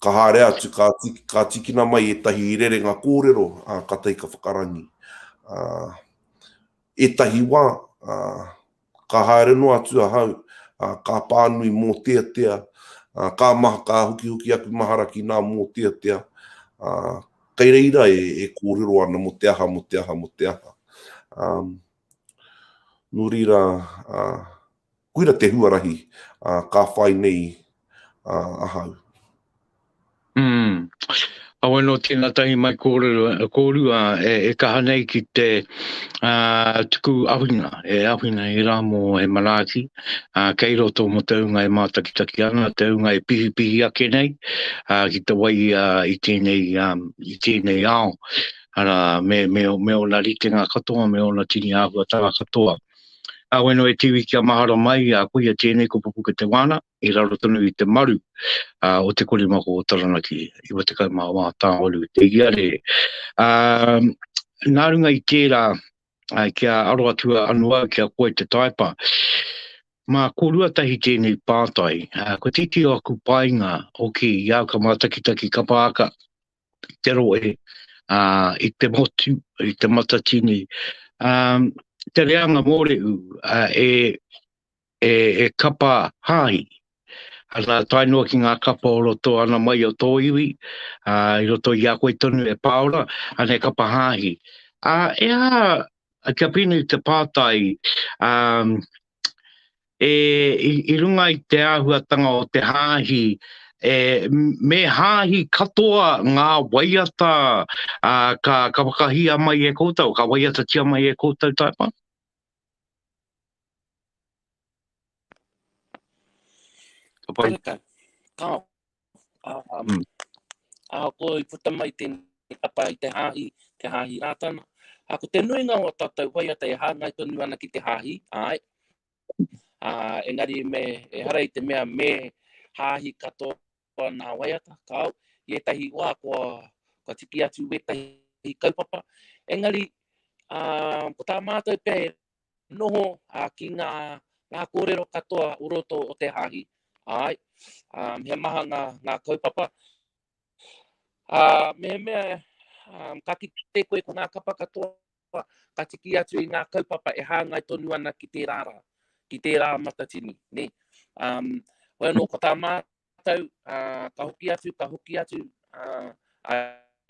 ka haere atu, ka, tiki, ka tikina mai ētahi rerenga kōrero a ka tai ka whakarangi. A, ētahi wā, a, Ka haere noa atu ahau, ā, ka pānui mōteatea, ā, ka maha, ka hukihuki aku mahara ki nā mōteatea, ā, kei reira e, e kōrero ana mō te aha, mō te aha, mō te aha. Ā, nō reira, ā, koira te huarahi, ā, ka whai nei, ā, ahau. Mm. Awe no tena tahi mai korero e koru a e, e kaha nei ki te a tuku awhina e awhina e ra mo he manaaki a kei roto mo te unga e matakitaki ana te unga e pihipihi ake nei a ki te wai a i tenei a i tenei ao ara me me me ona ritenga katoa me ona tini ahuatanga katoa Awe no e tiwi kia mahara mai a kuia tenei ko pupuke te wana i raro tonu i te maru uh, o te korimako o Taranaki, i wa te kau mā wā tāwaru te iare. Uh, nā runga i tērā, uh, kia aro atua anu au, kia koe te taipa, mā korua tahi tēnei pātai, uh, ko titi o aku painga, oki i au ka mātakitaki ka pāka, te roe, uh, i te motu, i te matatini, um, te reanga mōreu, uh, e, he kapa hāhi, ana tae noa ki ngā kapa o roto ana mai o tō iwi, ā, i roto i a koe tonu e Pāora, ana he kapa hāhi. Ā, e aha, kia pēnei te pātai, ā, e, i, i runga i te āhuatanga o te hāhi, e, me hāhi katoa ngā waiata, ā, ka, ka whakahīa mai e koutou, ka waiatatia mai e koutou tae pā? Ka pai. Ka, ka, um, mm. a ko i puta mai tēnei tapa i te hāhi, te hāhi rātana. A ko te nuinga o tātou waiata e hāngai tonu ana ki te hāhi, ai. A, engari me, e hara i te mea me hāhi katoa nā waiata, kao, i etahi wā kua, kua tiki atu wetahi kaupapa. Engari, a, ko tā mātou pē noho ki ngā kōrero katoa o roto o te hāhi, āe, he maha ngā kaupapa. Mehemea ka kite koe ko ngā kapa katoa ka tiki atu i ngā kaupapa e hāngai tonu ana ki tērā rā, ki tērā matatini, nē. Hoi anō, ko tā mātou, ka hoki atu, ka hoki atu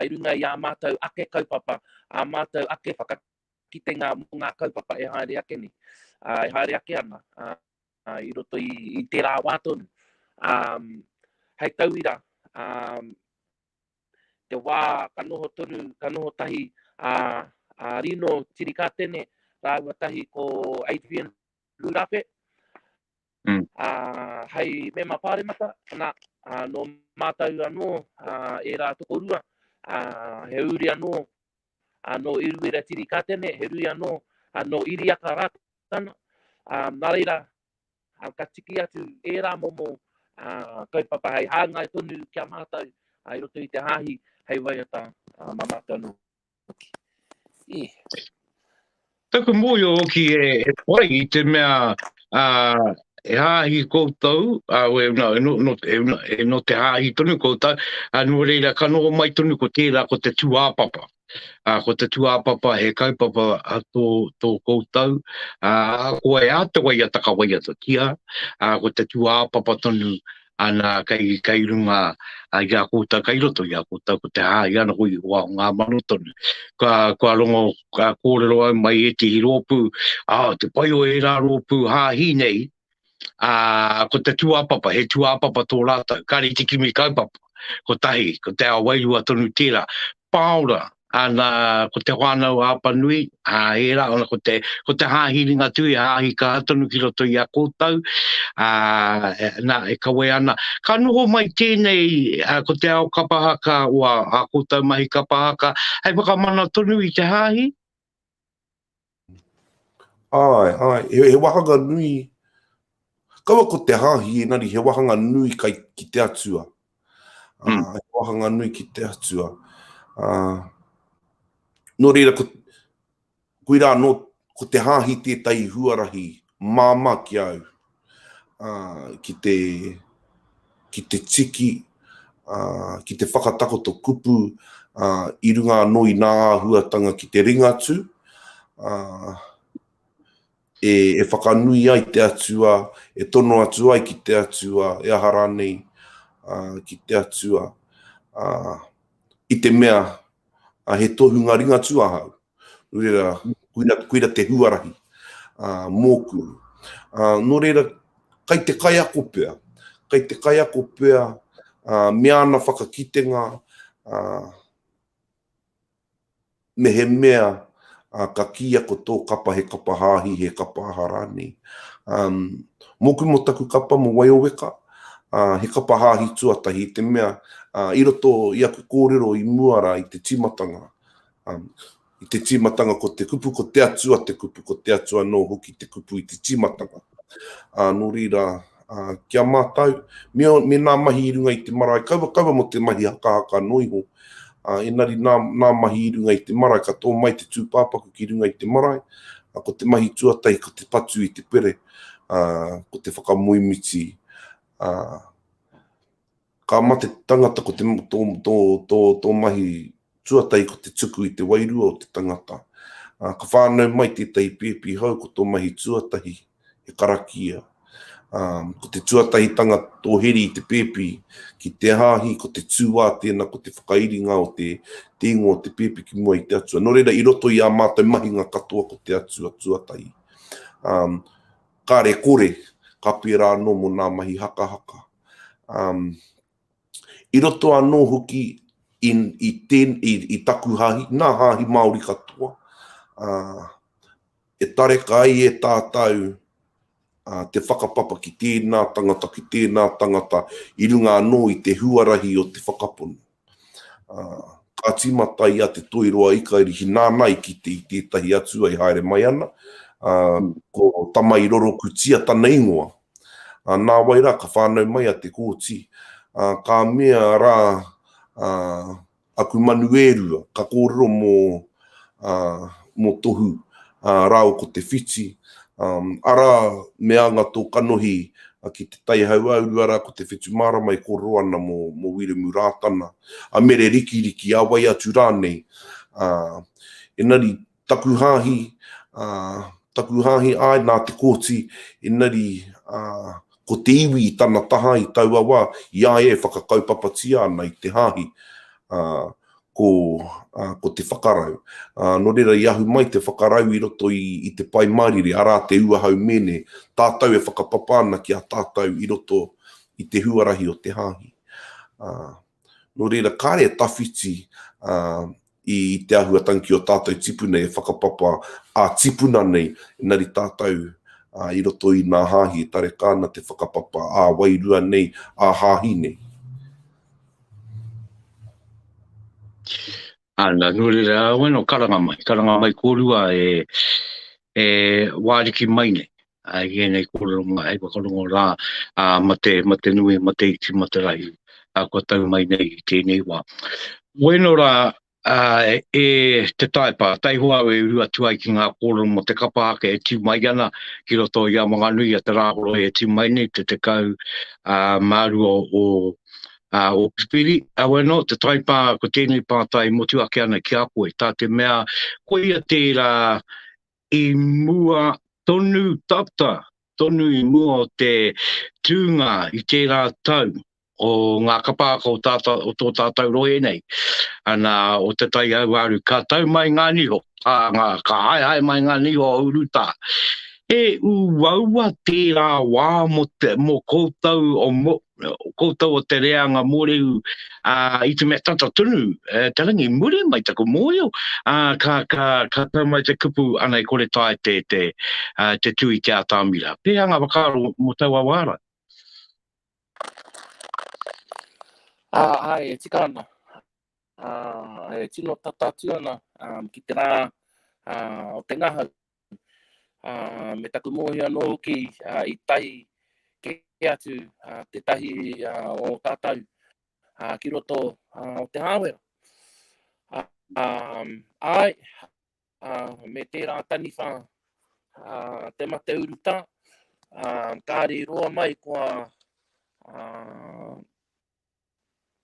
i runga i ā mātou ake kaupapa, ā mātou ake whakataukī, kitenga mō ngā kaupapa e haere ake nei, e haere ake ana i roto i tērā wā tonu. Hei tauira, te wā ka noho tonu, ka noho tahi a Rino Tirikatene rāua tahi ko Adrian Rurape, hei mema pāremata, nā, nō mātou anō ērā tokorua, he uri anō ā, nō Iruiratirikatene, he rui anō, ā, nō Iriaka Rātana, ā, nā reira, ā, ka tiki atu ērā momo, ā, kaupapa hei hāngai tonu ki a mātou, ā, i roto i te hāhi hei waiata, ā, mā mātou anō hoki. Ī. Taku mōhio hoki e whai i te mea he hāhi koutou, e no te hāhi tonu koutou, nō reira ka noho mai tonu ko tērā ko te tūāpapa. Ko te tūāpapa he kaupapa tō koutou, ko wai a te waiata ka waiatatia, ko te tūāpapa tonu, ana kai runga i a koutou, kai roto i a koutou, ko te hāhi ana koe i hoa o ngā mano tonu. Kua rongo, kua kōrero au mai ētehi rōpū, oh, te pai o ērā rōpū hāhi nei, ko te tūāpapa, he tūāpapa tō rātou, kāre i te kimi kaupapa, kotahi, ko te ao wairua tonu tērā, pāora, ana ko te whānau a Apanui, a ērā, ana ko te, ko te hāhi ringa tui, a hāhi ka atonu ki roto i a koutou, a, e, nā, e kawe ana. Ka noho mai tēnei, a, ko te ao kapahaka o a, a koutou mahi kapahaka, hei whakamana tonu i te hāhi, Ae, ae, he wahanga nui, kaua ko te hahi enari he wahanga nui kai ki te atua. Mm. Uh, he wahanga nui ki te atua. Uh, no reira, ko, kui rā, no, ko te hahi tētai huarahi māma ki au. uh, ki te ki te tiki, uh, ki te whakatakoto kupu uh, i runga anō i nā āhuatanga ki te ringatū, uh, e, e whakanui ai te atua, e tono atu ai ki te atua, e aha rānei uh, ki te atua, uh, i te mea uh, he tohunga ringatū ahau, Reira, koira, koira te huarahi uh, mōku. Uh, nō reira, kai te kaiako pea, kai te kaiako pea uh, me ana whakakitenga uh, me he mea uh, ka kia ko tō kapa he kapa hāhi, he kapa aha rānei. Um, mōku mō taku kapa mō Waioweka, uh, he kapa hāhi tuatahi, te mea uh, i roto i aku kōrero i mua rā i te timatanga, Um, i te tīmatanga ko te kupu, ko te atua te kupu, ko te atua anō hoki te kupu i te tīmatanga. Uh, nō rīra, uh, kia mātau, me, me nā mahi i runga i te marae, kaua kaua mo te mahi hakahaka anō iho, uh, enari nā, nā mahi i runga i te marae, ka tō mai te tūpāpaku ki runga i te marae, uh, ko te mahi tuatahi, ko te patu i te pere, uh, ko te whakamoemiti, uh, Ka mate tangata ko te, tō, tō, tō, tō mahi tuatahi ko te tuku i te wairua o te tangata. Ā, ka whānau mai tētahi pēpi hou ko tō mahi tuatahi he karakia. Ā, ko te tuatahitanga tō heri i te pēpi ki te hāhi, ko te tūā tēnā ko te whakairinga o te te ingoa o te pēpi ki mua i te atua. Nō reira, i roto i ā mātou mahinga katoa ko te atua tuatahi. Ā, kāre kore, ka pērā anō mō ngā mahi hakahaka. i roto anō hoki i taku hāhi, nā hāhi Māori katoa, e tareka ai e tātou te whakapapa ki tēnā tangata, ki tēnā tangata i runga anō i te huarahi o te whakapono. Ka tīmata i a Te Toiroa i Kairihi nāna i kite i tētahi atua i haere mai ana, ko Tamairorokutia tana ingoa. Nāwai rā ka whānau mai a Te Kooti, ka mea rā aku manu e rua, ka kōrero mō. mō Tohu rāua ko Te Whiti, arā, me anga tō kanohi ki Te Tai Hauāuru, arā, ko Te Whetumārama e kōrero ana mō Wiremu Rātana, a Mere Rikiriki, a wai atu rānei. Engari, taku hāhi, taku hāhi, āe, nā Te Kooti, engari, ko te iwi i tana taha i taua wā, i a ia e whakakaupapatia ana i te hāhi. ko, ā, ko te whakarau. Ā, nō reira i ahu mai te whakarau i roto i, i te Pai Mārire, arā te ua hau mēne, tātou e whakapapa ana ki a tātou i roto i te huarahi o te Hāhi. Ā, nō reira kāre e tawhiti, ā, i te āhuatang ki ō tātou tipuna e whakapapa ā-tipuna nei, engari tātou, ā, i roto i nā Hāhi e tareka ana te whakapapa ā-wairua nei, ā-Hāhi nei. Ana, nō reira, wena o karanga mai, karanga mai kōrua e, e wāriki mai nei, ai i ēnei kōrero mai, hei whakarongo rā, a, ma te, ma te nui, ma te iti, ma te rahi, a, kua tau mai nei i tēnei wā. Wena rā, Ā, e te Taepa, taihoa au e uru atu ai ki ngā kōrero mō te kapa ake e tū mai ana ki roto i a Wanganui, i a Te Rāhoroi e tū mai nei, te tekau mā rua o Ōpipiri. Heoi anō, te Taepa, ko tēnei pātai e motu ake ana ki a koe, tā te mea, koia tērā I mua tonu tata, tonu i mua o te tūnga i tērā tau o ngā kapāka o tātau, o tō tātau rohe nei, ana, o Te Tai Auaru, ka tau mai ngā niho, ā, ngā, ka haehae mai ngā niho o urutā. He uaua tērā wā mō te, mō koutou o, o koutou o te reanga mōrehu, ā, i te mea tata tonu te rangi, muri mai taku mōhio, ā, ka, ka, ka tau mai te kupu, anei kore tae te, te, ā, te tū i te atamira. Pēhea ngā whakaaro mō taua wā rā? Ā, āe, e tika ana. Ā, e tino tata atu ana, ā, ki te rā, ā, o te ngahau. me taku mōhio anō hoki i tae kē atu tētahi o tātou ki roto o te hāwera. Ai, me tērā taniwha te mate uruta, kāre i roa mai kua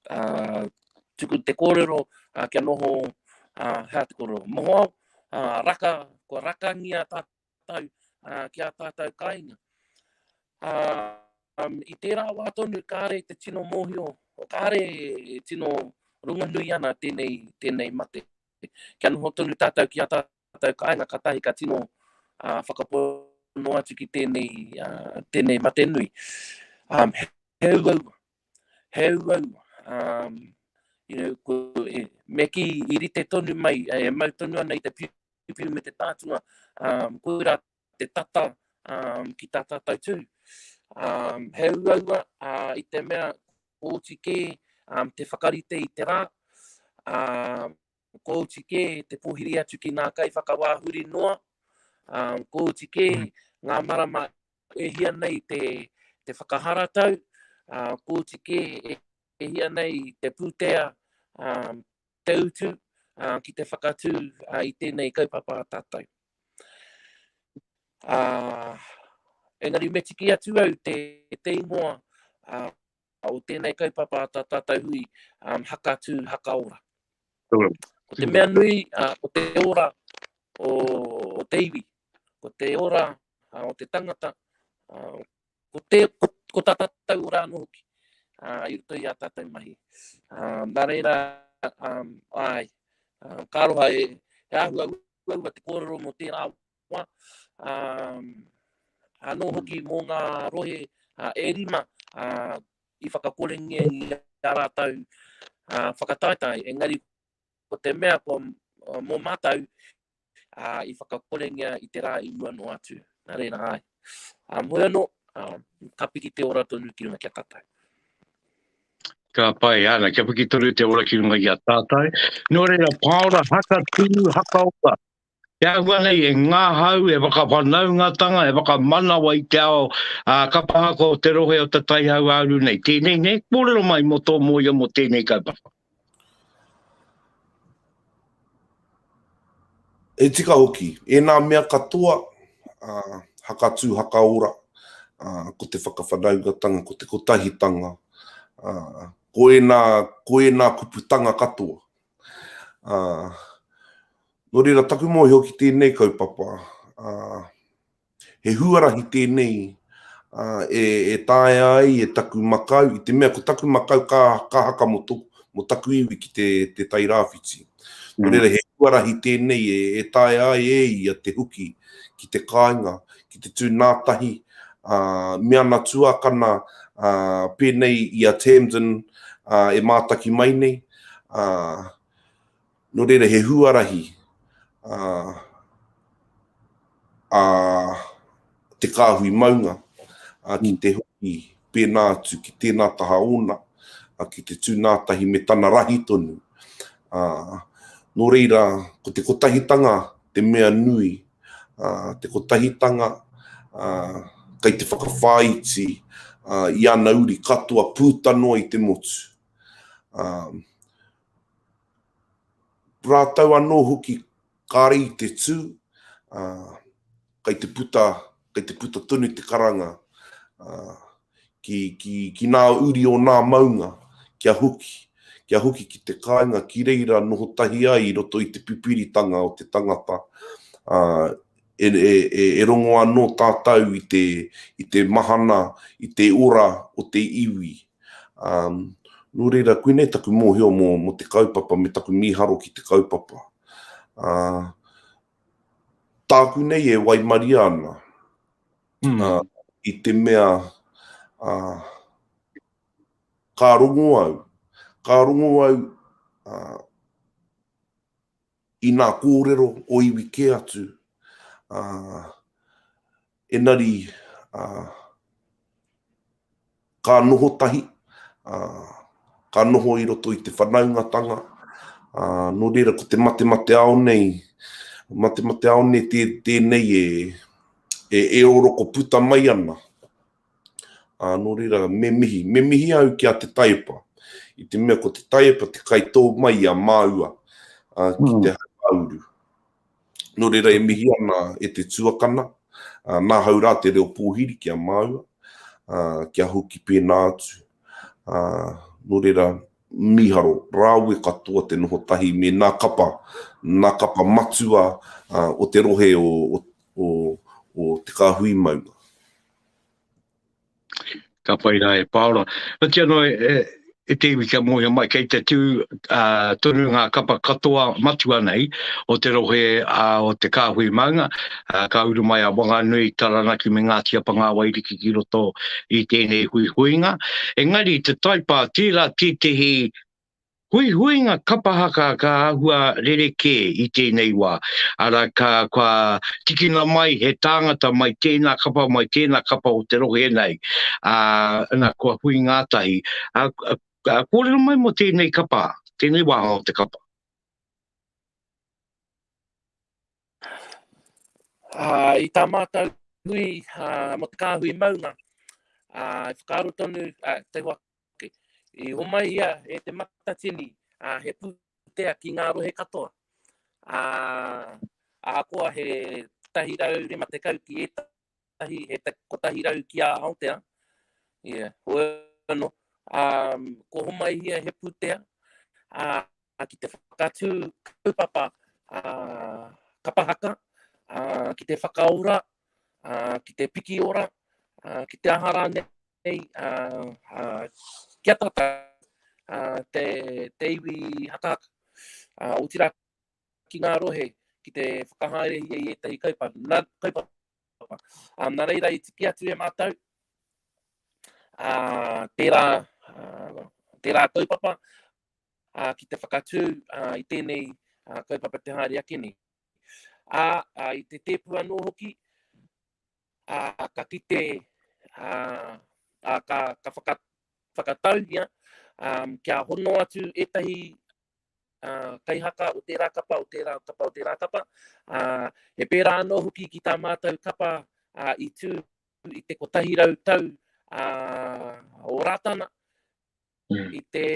uh, tuku te kōrero uh, kia noho uh, hea te kōrero moho au, uh, raka, kua rakangia tātou uh, ki a tātou kāinga. Uh, um, I tērā wā tonu, kāre te tino mōhio, kāre tino runga nui ana tēnei, tēnei mate. Kia noho tonu tātou ki a tātou kāinga, ka tahi ka tino uh, whakapono atu ki tēnei, uh, tēnei mate nui. Um, he uaua, he uaua, um, you know, ko, e, me ki i rite tonu mai, e mau tonu ana i te piupiu me te tātua, um, ko rā te tata um, ki tā tātou tū. Um, he uaua uh, i te mea kōti kē um, te whakarite i te rā, um, Ko oti kē te pōhiri atu ki ngā kaiwhakawā huri noa, ā, ko oti kē ngā marama e hia nei te, te whakaharatau, ā, ko oti kē e, e hia nei te pūtea, ā, te utu, ā, ki te whakatū ā, i tēnei kaupapa a tātou. Ā, engari me tiki atu au te, te ingoa, ā, o tēnei kaupapa a tā tātou hui um, haka tū, haka ora. Ko te mea nui, uh, ko te ora o, o te iwi, ko te ora uh, o te tangata, uh, ko, te, ko, ko tā tātou ora anō hoki, uh, i roto i a tātou mahi. Uh, nā reira, um, ai, uh, ka aroha e, e ahua ua te kōrero mō tērā Papua, ā, anō hoki mō ngā rohe e rima i whakakorengia i a rātou whakataetae, engari ko te mea ko mō mātou i whakakorengia i te rā i mua noa atu. Nā reira ai. Ā, moe anō, ka piki te ora tonu ki runga ki a tātou. Ka pai, ana, kia piki tonu te ora ki runga ki a tātou. Nō reira, pāora, haka tū, haka ora. Te ahua nei e ngahau, e whakawhanaungatanga, e whakamanawa i te ao kapa haka o te rohe o Te Tai Hauāuru nei. Tēnei nei, kōrero mai mō tō mōia mō tēnei kaupapa. E tika hoki, ēnā mea katoa, hakatū, hakaora, ko te whakawhanaungatanga, ko te kotahitanga, ko ēnā, ko ēnā kuputanga katoa, Nō reira, taku mōhio ki tēnei kaupapa, he huarahi tēnei e taea ai e taku makau, i te mea ko taku makau ka haka mō taku iwi ki te Tairāwhiti. Nō reira, he huarahi tēnei e taea ai e ia te huki ki te kāinga, ki te tū nā tahi me ana tuakana pēnei i a Tamdyn e mātaki mai nei, Ā, nō reira he huarahi ā, ā te kāhui maunga ā, ki te hoki pēnā atu ki tēnā taha ōna, ā, ki te tū nā tahi me tana rahi tonu. Ā, nō reira, ko te kotahitanga te mea nui, ā, te kotahitanga ā, kei te whakawhāiti ā, i ana uri katoa pūta noa i te motu. Rātou anō hoki kāre i te tū, kei te puta, kei te puta tonu te karanga ki, ki, ki nā uri o nā maunga, kia hoki, kia hoki ki te kāinga ki reira noho tahi ai i roto i te pipiritanga o te tangata, e, e, e, e rongo anō tātou i te, i te mahana, i te ora o te iwi. Ā, nō reira, koinei taku mōhio mō, mō te kaupapa me taku mīharo ki te kaupapa. Ā, tāku nei e waimaria ana, ā, i te mea, ā, ka rongo au, ka rongo au, ā, I nā kōrero o iwi kē atu, ā, enari, ā, ka noho tahi, ā, ka noho i roto i te whanaungatanga, ā, nō reira ko te matemateao nei, matemateao nei tē, tēnei e, e, e oroko puta mai ana. Ā, nō reira, me mihi, me mihi au ki a te taiepa, i te mea ko te taiepa te kai tō mai i a māua, ā, ki te hauāuru. Nō reira, e mihi ana e te tuakana, ā, nāhau rā te reo pōhiri ki a māua, ā, kia hoki pēnā atu. Ā, nō reira, mīharo, rāwe katoa te noho tahi me nā kapa, nā kapa matua, ā, o te rohe o, o, o, o Te Kāhui Maunga. Ka pai rā e Pāora. Ka kī anō e te iwi kia mōhio mai, kei te tū tonu ngā kapa katoa matua nei o te rohe o Te Kāhui Maunga, ka uru mai a Wanganui, Taranaki me Ngāti Apangāwairiki ki roto i tēnei huihuinga. Engari te taipā, tērā tētehi Huihuinga kapa haka ka āhua rerekē i tēnei wā, arā, ka, kua tikina mai he tāngata mai tēnā kapa, mai tēnā kapa o te rohe nei, ā, nā, kua hui ngātahi. Ā, ā, kōrero mai mō tēnei kapa, tēnei wāhanga o te kapa. Ā, i tā mātou hui, ā, mō te kāhui maunga, ā, i whakaaro tonu, ā, te wā I homai ia e Te Matatini, ā, he pūtea ki ngā rohe katoa. Ā, ahakoa he 150 ki ētahi, he 100 ki a Aotea, ia, hoi anō, ā, kua homai ia he pūtea, ā, ki te whakatū kaupapa, ā, kapa haka, ā, ki te whakaora, ā, ki te piki ora, ā, ki te aha rānei, nei ki a tata te iwi hakaaka, otira ki nga rohe ki te whakahaere ia i etahi kaupapa. Na reira i tiki atu e matou tera, tera kaupapa ki te whakatu i tenei kaupapa te haere ake nei. A i te tepu ano hoki, ā, ka kite, ā, ā, ka, ka whaka, whakatauhia um, kia hono atu ētahi uh, kaihaka o tērā kapa, o tērā kapa, o tērā kapa. Uh, he pērā anō hoki ki tā mātou kapa uh, i tū i te kotahi rau tau uh, o Rātana mm. i te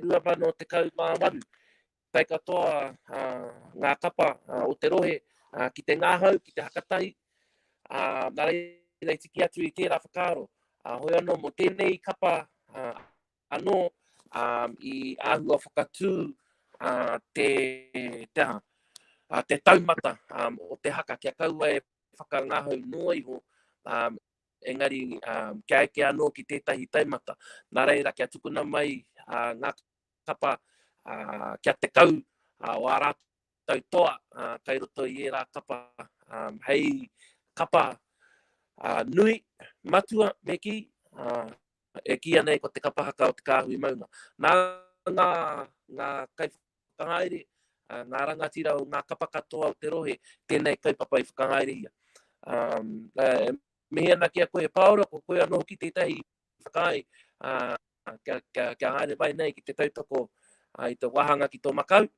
2018. tae katoa ngā kapa o te rohe ki te ngahau, ki te hakatahi, nā reira i tiki atu i tērā whakaaro. Hoi anō mō tēnei kapa anō i āhua whakatū te, te aha, te taumata o te haka kia kaua e whakangahau noa iho, engari kia eke anō ki tētahi taumata. Nā reira kia tukuna mai ngā kaupapa kia tekau o ā rātou toa kei roto i ērā kapa, hei kapa nui, matua me kī, e kīia nei ko te kapa haka o te kāhui maunga. Nā ngā kaiwhakahaere, ngā rangatira o ngā kapa katoa o te rohe, tēnei kaupapa i whakahaere ia. E mihi ana ki a koe e Pāora, ko koe anō hoki tētahi whakaae, ā, kia, kia, kia haere mai nei ki te tautoko ā, i te wāhanga ki tō Makau,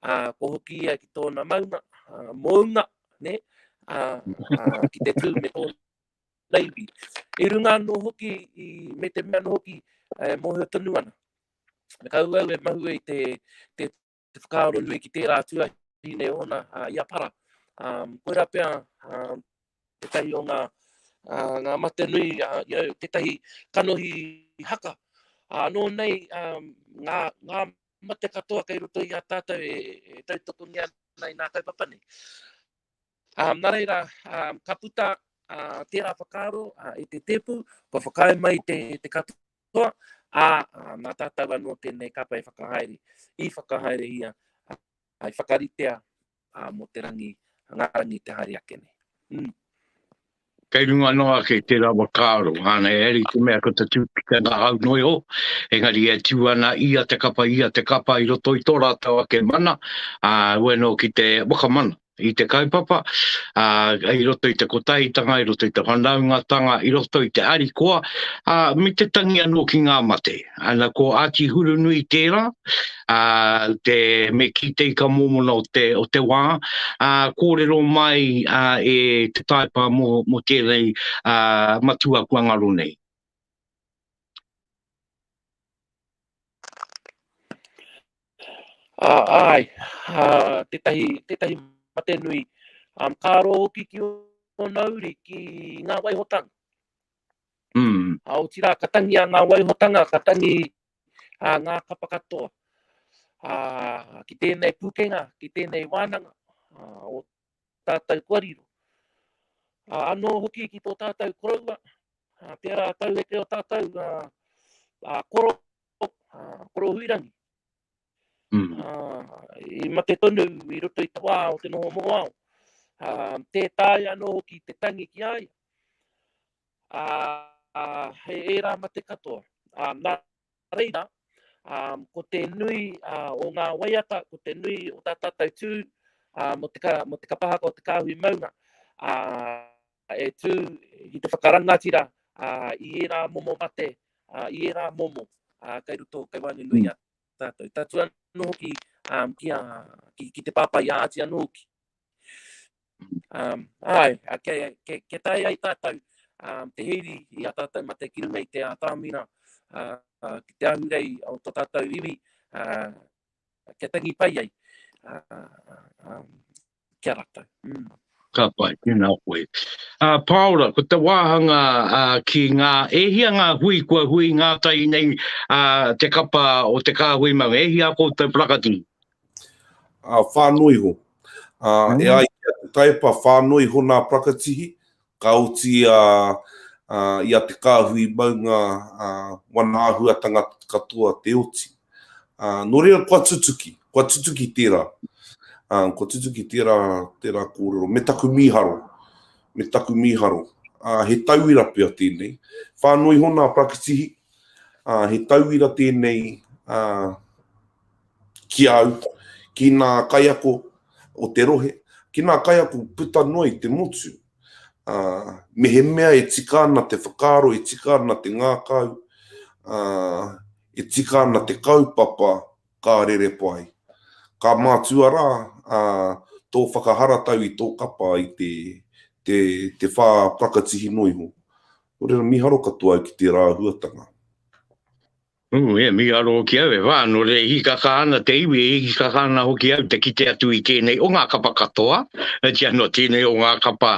ā, kua hoki ia ki tōna maunga, ā, mounga, ne, ā, ā, ki te tū me tōna naiwi. I runga anō hoki, i, me te mea anō hoki, e, mōhio tonu ana. Me kau au e mahue i te, te te whakaaro nui ki tērā tuahi nei ōna uh, i a para. Um, koira pea um, te tahi o ngā, uh, ngā mate nui, uh, you know, te tahi kanohi haka. Uh, nō nei um, ngā, ngā mate katoa kei roto i a tātou e, e tautoko ni ana i nā kaupapa nei. Um, nā reira, um, ka puta uh, tērā whakaaro uh, i te tēpu, kua whakae mai te, te katoa katoa, ā, nā tātou anō tēnei kapa e whakahaere, i whakahaere ia, ā, i whakaritea mō te rangi, ngā rangi te haere ake nei. Mm. Kei runga noa ake te rawa kāro, āna e ari te mea ko te tūpita ngā hau noi ho, engari e tū ana ia te kapa, ia te kapa i roto i tō rātou ake mana, ā, ueno ki te wakamana. i te kaupapa, ā, i roto i te kotahitanga, i roto i te whanaungatanga, i roto i te harikoa, ā, me te tangi anō ki ngā mate. Ana, ko Āti Hurunui tērā, ā, te, me kī te ika mōmona o te, o te wā, ā, kōrero mai, ā, e te taepa mō, mō tēnei, ā, matua kua ngaro nei. Uh, ai, uh, tētahi, tētahi mate nui. Um, ka aro hoki ki o nauri ki ngā waihotanga. Mm. A o tira, ka tangi a ngā waihotanga, ka tangi a ngā kapa katoa. A, ki tēnei pukenga, ki tēnei wānanga, a, o tātou kua riro. A, anō hoki ki tō tātou koroua, a, tērā tau e te o tātou, a, a, koro Korohuirangi. Mm. I mate tonu i roto i te wā o te noho mohoao. Tē tāi anō ki te tangi ki ai. He ērā mate katoa. Nā reira, ko te nui o ngā waiata, ko te nui o tā tātou tū, mo te kapahaka o te kāhui maunga, E tū ki te whakarangatira i ērā momo mate, i ērā momo kei roto, kei waenga nui i a tātou. Tatū anō hoki ki te pāpā i a Āti anō hoki. Āe, kia tae ai tātou te hīri i a tātou mate ki runga i te ātamina, ki te ahurei o tō tātou iwi, kia tangi pai ai ki a ratou. Ka pai, tēnā koe. Ā, Pāora, ko te wāhanga ā, ki ngā, e hia ngā hui kua hui ngātahi nei ā, te kapa o te kāhui maunga, e hia koutou parakati? Ā, whānō iho. Ā, e ai ki a Te Taepa, whānō iho nā parakatihi, Ka oti i a Te Kāhui mau ngā wana āhuatanga katoa te oti. Nō reira kua tutuki, kua tutuki tērā, kua tutuki tērā, tērā kōrero me taku mīharo, me taku mīharo. He tauira pea tēnei. Whānui iho nā Prakitihi, he tauira tēnei ki a au, ki ngā kaiako o te rohe, ki ngā kaiako puta noa i te motu, ā, mehemea e tika ana te whakaaro, e tika ana te ngākau, ā, e tika ana te kaupapa ka rere pai. Ka mātua rā, ā, tō whakaharatau i tō kapa i te, te, te whā prakatihi noa iho. Nō reira, mīharo katoa au ki tērā āhuatanga. Ū, e mīharo hoki au, e whā, nō reira e hīkaka ana te iwi, e hīkaka ana hoki au te kite atu i tēnei o ngā kapa katoa, otiia nō tēnei o ngā kapa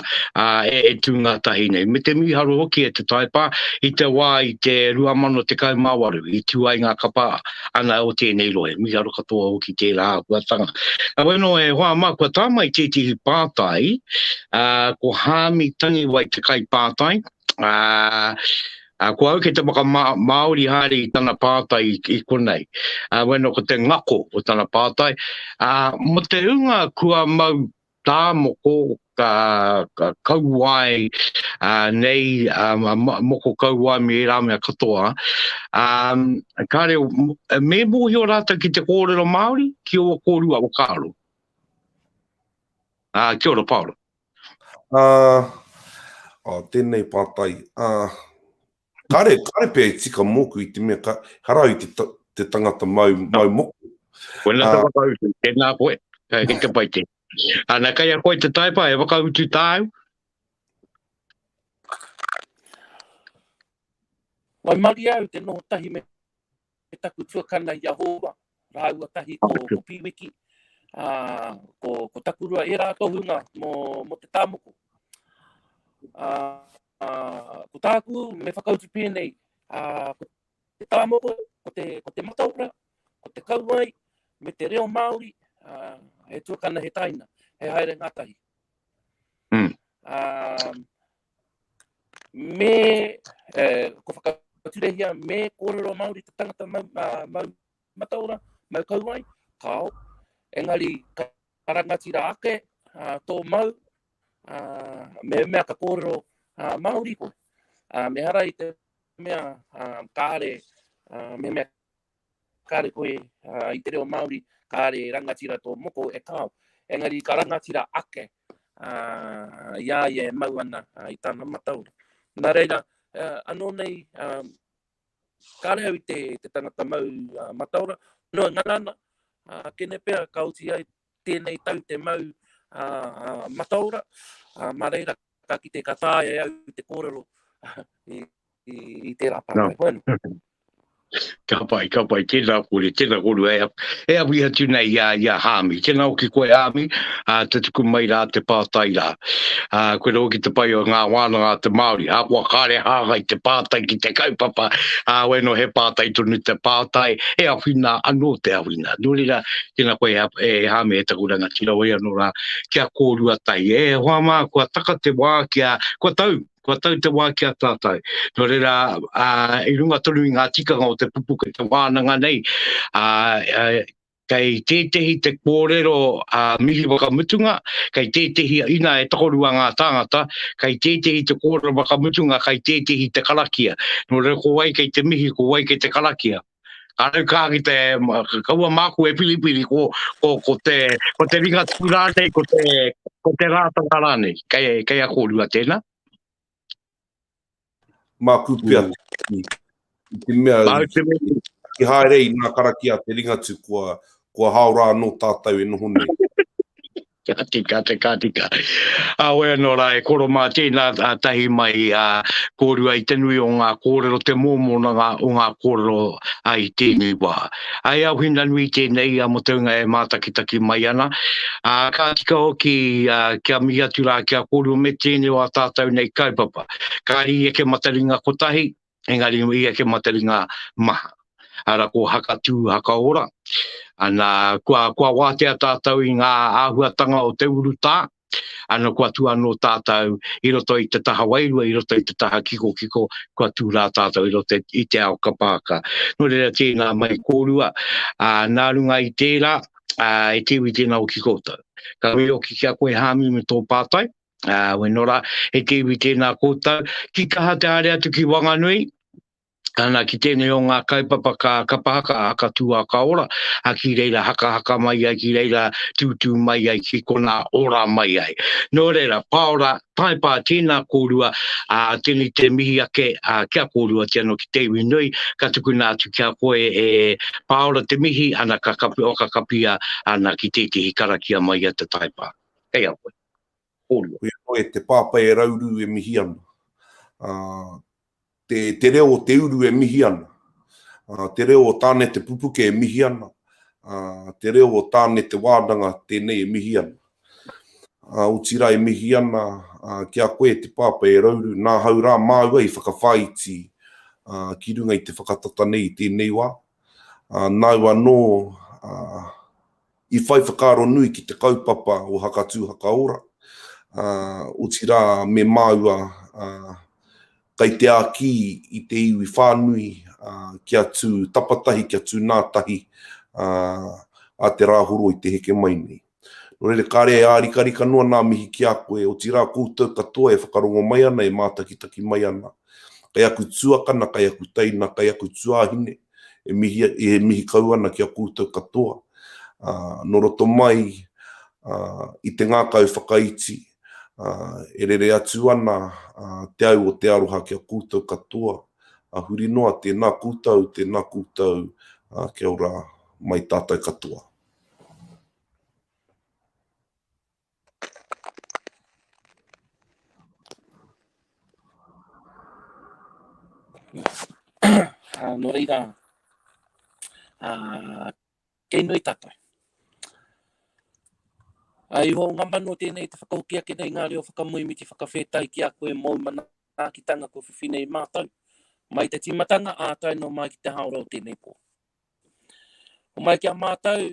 e tū ngātahi nei. Me te mīharo hoki e te Taipā, i te wā i te 2018 i tū ai ngā kapa ana o tēnei rohe, mīharo katoa hoki tērā āhuatanga. Nā wai anō e hoa mā, kua tā mai tētehi pātai, ko Hāmi Tangiwai te kaipātai, A, ko au kei te whakamāori haere i tana pātai i, i konei. A, wena ko te ngako o tana pātai. A, mo te hunga kua mau tā moko, ka, ka kauae a, nei, a, moko kauae me ērā mea katoa. A, kāre, me mōhio rātou ki te kōrero Māori, ki ō kōrua whakaaro. A, kia ora Paora. Ā, tēnei pātai, ā, kāre, kāre pea i tika mōku i te mea ka, harau i te, te tangata mau, mau moko. Wena te whakautu, tēnā koe, kai ki te pai te. Ana kai a koe te taipa, e whakautu tāu? Waimarie au te noho tahi me e taku tuakana Iahova, rāua tahi ko, ko Piwiki, ā, ko, ko Takurua, e rā tohunga mō, mō te tāmoko. Ā, ā, ko tāku me whakautu pēnei, ā, ko te tāmoko, ko te, ko te mataora, ko te kauai, me te reo Māori, ā, he tuakana he taina, he haere ngātahi. Mm. Ā, Me, eh, ko whakaturehia, me kōrero Māori te tangata mau, uh, mau mataora, mau kauai, kāo. Engari, ka rangatira ake uh, tō mau, uh, me mea ka kōrero uh, Māori koe. Uh, me hara i te mea uh, kāre, uh, me mea Kāre koe i te reo Māori, kāre e rangatira tō moko e kāo. Engari ka rangatira ake i a ia e mau ana i tana mataora. Nā reira, anō nei, kāre au i te tangata mau mataora, noa ngana ana, kene pea ka oti ai tēnei tau te mau a Mataora, mā reira ka kite ka taea e au te kōrero i tērā pātai. Koe anō. Ka pai, ka pai, tēnā kore, tēnā korua, e awi atu nei i a Hāmi. Tēnā o ki koe Hāmi, te tuku mai rā, te pātai rā. Koe rau ki te pai o ngā wānanga a te Māori, ākua kāre hāngai te pātai ki te kaupapa, wai no he pātai tonu te pātai, e awhina anō te awhina. Nō reira, Tena koe e Hame e taku rangatira wai ano ra kia korua tai e hoa ma kua taka te wa kia kua tau kua tau te wa kia tatou no rera a i runga tonu i nga tikanga o te pupu ki te wananga nei a kei tetehi te korero a mihi wakamutunga kei tetehi ina e tokorua nga tangata kei tetehi te korero wakamutunga kei tetehi te karakia no rera ko wai kei te mihi ko wai kei te karakia Kāre kā ki te, kaua māku e piripiri, ko, ko, ko, te, ko te ringa tū rānei, ko te, ko te rātanga rānei, kei, kei a kōrua tēnā. Māku pia, mm. i te mea, ki haere i nā karakia te ringa tū, kua, kua hao rā anō tātou e noho nei. Ka tika atu, ka tika. Awe anō rā, e koro mā tēnā tahi mai, ā, kōrua i te nui o ngā kōrero, te mōmōnanga o ngā kōrero i tēnei wā. Ā, e Auhina nui tēnei mō te hunga e mātakitaki mai ana, ā, ka tika hoki kia mihi atu rā ki a kōrua me tēnei o ā tātou nei kaupapa. Kāri i eke mataringa kotahi, engari i eke matari ngā maha. Ara ko Hakatū, Hakaora. Ana, kua, kua wātea tātou i ngā āhuatanga o te urutā, ana kua tū anō tātou i roto i te taha wairua, i roto i te taha kikokiko, kua tū rā tātou i roto i te ao kapaaka. Nō reira tēnā mai kōrua, ā, nā runga i tērā, ā, e te iwi tēnā hoki koutou. Ka wero hoki ki a koe Hāmi me tō pātai, Ā, we nō rā, he te iwi tēnā kōtau, ki kaha te haere atu ki Wanganui, ana ki tēnei o ngā kaupapa ka kapa haka, haka tū haka ora, a ki reira haka haka mai ai, ki reira tūtū mai ai, ki konā ora mai ai. Nō reira, paora, taipā, tēnā kōrua, ā, tēnei te mihi ake, ā, ki a kōrua, ki anō ki te iwi nui, ka tukuna atu ki a koe e paora te mihi, ana ka kapi, whakakapia ana ki tētehi karakia mai i a te taipā. Kei a koe. Horia. Koia noa e te pāpai e rauru e mihi ana. Te reo o te uru e mihi ana. Te reo o Tāne Te Pupuke e mihi ana. Te reo o Tāne Te Wānanga tēnei e mihi ana. Otirā e mihi ana ki a koe e te pāpai e rauru, nā hau rā māua i whakawhāiti ki runga i te whakatata nei i tēnei wā. Nāu anō I whai whakaaro nui ki te kaupapa o Hakatū Hakaora, ā, otirā me māua, ā, kei te āki i te iwi whānui, ā, kia tū tapatahi, kia tū nā tahi, ā, ā te Rāhoro i te heke mai nei. Nō reira, kāre e ārikarika noa nā mihi ki a koe, otirā koutou katoa e whakarongo mai ana, e mātakitaki mai ana, kei aku tuakana, kei aku teina, kei aku tuāhine, E mihi, e mihi kau ana ki a koutou katoa, ā, nō roto mai, ā, i te ngākau whakaiti, ā, e rere atu ana, ā, te au o te aroha ki a koutou katoa, ā, huri noa, tēnā koutou, tēnā koutou, ā, kia ora mai tātou katoa. Ah, no reira, ah, kei nui tatou. Ai ho nga manu tēnei te whakahoki ake nei ngā reo whakamuimi ki whakawhētai ki a koe mōu manaakitanga kua whiwhi nei mātou. Mai te timatanga ā tai no mai ki te haora o tēnei pō. O mai ki a mātou,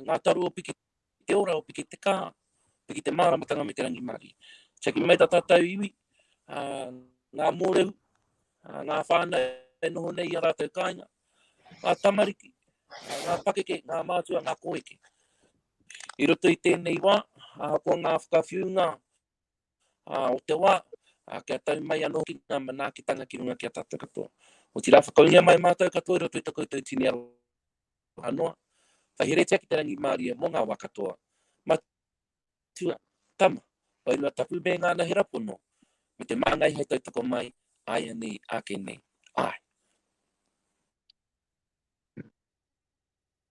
ngā taru o piki Te ora o Piki te Ka, Piki te Māramatanga me te Rangimārie. Tiaki mai tā tātou iwi, ngā mōrehu, ngā whānau e noho nei i a rātou kāinga, ngā tamariki, ngā pakeke, ngā mātua, ngā kōeke. I roto i tēnei wā, ahakoa ngā whakawhiunga o te wā, kia tau mai anō hoki ngā manaakitanga ki runga ki a tātou katoa. Otirā, whakaungia mai mātou katoa i roto i tā koutou tini aroha. maha noa. Whaheretia ki te rangimārie mō ngā wā katoa. Matua, tama, wairua tapu me ngā anahera pono, me te māngai hei tautoko mai, āianei, āke nei, āe.